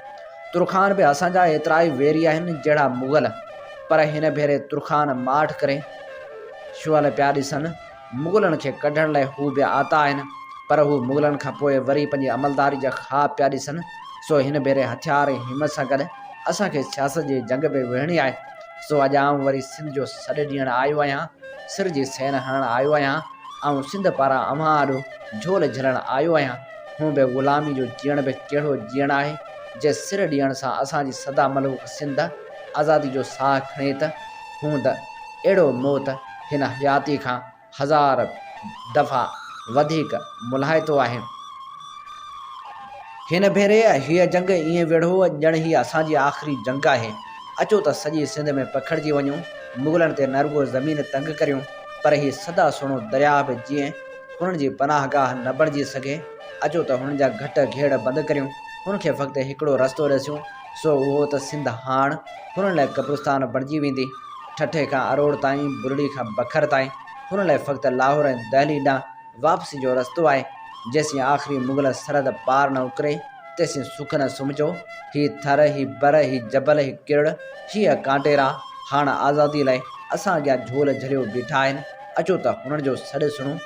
ترخان به اسان جا ايترائي ويري آهن جهڙا مغل، پر هن ڀيري ترخان ماٺ ڪري شعل پيا ڏسن. مغلن کي ڪڍڻ لاء هو بي آتا آهن، پر هو مغلن کان پوء وري پنهنجي عملداري جا خواب پيا ڏسن، سو هن ڀيري هٿيار ۽ همت سان گڏ اسان کي سياست جي جنگ به وڙهڻي آهي، سو اڄ آئون وري سنڌ جو سڏ ڏيڻ آيو آهيان، سر جي سين هڻڻ آيو آهيان، آئون سنڌ پاران اوهان آڏو جهول جهلڻ آيو آهيان، هونء به غلامي جو جيئڻ به ڪهڙو جيئڻ آهي، جي سر ڏيڻ سان اسان جي سدا ملوڪ سنڌ آزادي جو ساهه کڻي ته هونء ته. اهڙو موت هن حياتي کان هزار دفعا وڌيڪ ملهائتو آهي. هن ڀيري هيء جنگ ائين ويڙهو ڄڻ هيء اسان جي آخري جنگ آهي. اچو ته سڄي سنڌ ۾ پکڙجي وڃون، مغلن تي نه رڳو زمين تنگ ڪريون، پر هي سدا سهڻو درياهه به جيئن هنن جي پناهه گاهه نه بڻجي سگهي. اچو ته هنن جا گهٽ گهيڙ بند ڪريون، هن کي فقط هڪڙو رستو ڏسيون، سو اهو ته سنڌ هاڻ هنن لاء قبرستان بڻجي ويندي. ٺٽي کان اروڙ تائين، برڙي کان بکر تائين هنن لاء فقط لاهور ۽ دهلي ڏانهن واپسي جو رستو آهي. جيسين آخري مغل سرحد پار نه اڪري، تيسين سک نه سمجهو. هي ٿر، هي بر، هي جبل، هي ڪرڙ، هيء ڪانٽيرا هاڻ آزاديء لاء اسان اڳيان جهول جهليو بيٺا آهن. اچو ته هنن جو سڏ سڻون.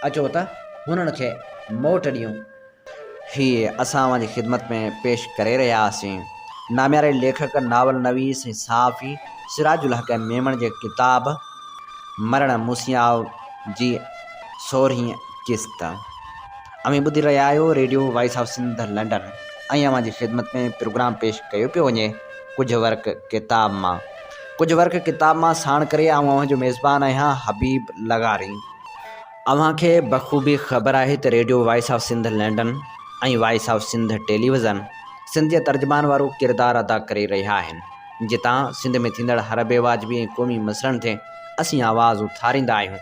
اچو ته هنن کي موٽ ڏيون. هي اسان اوهان جي خدمت ۾ پيش ڪري رهيا آهيسين. نامياري ليکڪ، ناول نويس ۽ صحافي سراج الحق ميمڻ جي ڪتاب مرڻ موسيٰء جي سورهين قسط اوهين ٻڌي رهيا آهيو radio voice of Sindh London ۽ اوهان جي خدمت ۾ پروگرام پيش ڪيو پيو وڃي ڪجهه ورق ڪتاب مان ڪجهه ورق ڪتاب مان ساڻ ڪري آئون اوهان جو ميزبان آهيان حبيب لغاري. اوهان کي بخوبي خبر آهي ته radio voice of Sindh London ۽ voice of Sindh television Sindh جي ترجمان وارو ڪردار ادا ڪري رهيا آهن جتان سنڌ ۾ ٿيندڙ هر بي واجبي ۽ قومي مسئلن تي اسين آواز اٿاريندا آهيون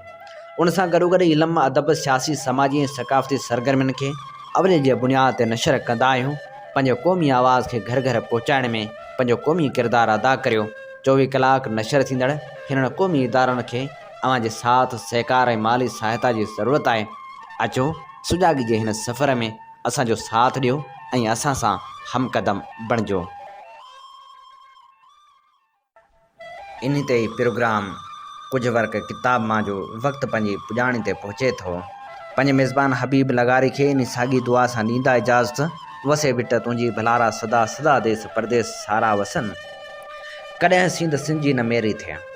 ان سان گڏوگڏ علم ادب سياسي سماجي ۽ ثقافتي سرگرمين کي اولي جي بنياد تي نشر ڪندا آهيون پنهنجي قومي آواز کي گهر گهر پهچائڻ ۾ پنهنجو قومي ڪردار ادا ڪريو چوويهه ڪلاڪ نشر ٿيندڙ هنن قومي ادارن کي اوهان جي ساٿ سهڪار ۽ مالي سهائتا جي ضرورت آهي اچو سجاڳي جي هن سفر ۾ اسان جو ساٿ ڏيو ۽ اسان سان همقدم بڻجو. انهي تي هي پروگرام ڪجهه ورق ڪتاب مان جو وقت پنهنجي پڄاڻي تي پهچي ٿو. پنهنجي ميزبان حبيب لغاري کي انهي ساڳي دعا سان ڏيندا اجازت وسي وٽ تنهنجي ڀلارا سدا سدا ديس پرديس سارا وسن. ڪڏهن سينڌ سنجي نه ميري ٿئي.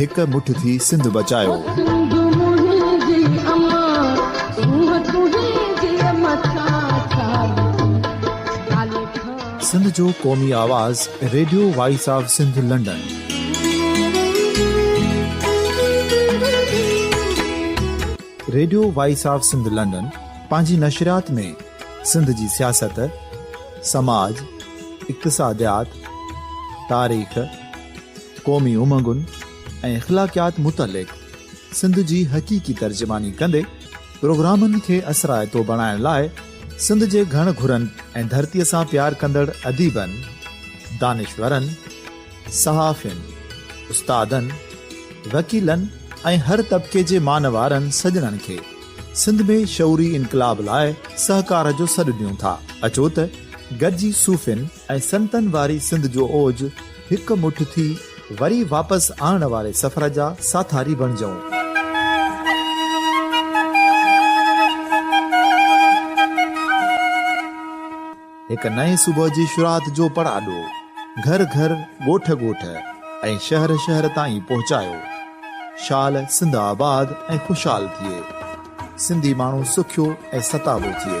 هڪ مٺ ٿي سنڌ بچايو. سنڌ جو قومي آواز radio voice of Sindh London. Radio voice of Sindh London پنهنجي نشريات ۾ سنڌ جي سياست، سماج، اقتصاديات، تاريخ، قومي امنگن ۽ اخلاقيات متعلق سنڌ جي حقيقي ترجماني ڪندي پروگرامن کي اثرائتو بڻائڻ لاء سنڌ جي گهڻ گهرن ۽ ڌرتيء سان پيار ڪندڙ اديبن، دانشورن، صحافين، استادن، وڪيلن ۽ هر طبقي جي مانوارن سڄڻن کي. سنڌ ۾ شعوري انقلاب لاء سهڪار جو سڏ ڏيون ٿا، اچو ته گڏجي صوفين ۽ سنتن واري سنڌ جو اوج هڪ مٺ ٿي وري واپس آڻڻ واري سفر جا ساٿاري بڻجئون. هڪ نئين صبح جي شروعات جو پڙاڏو گهر گهر، ڳوٺ ڳوٺ ۽ شهر شهر تائين پهچايو. شال سنڌ آباد ۽ خوشحال ٿئي. سنڌي ماڻهو سکيو ۽ ستابو ٿئي.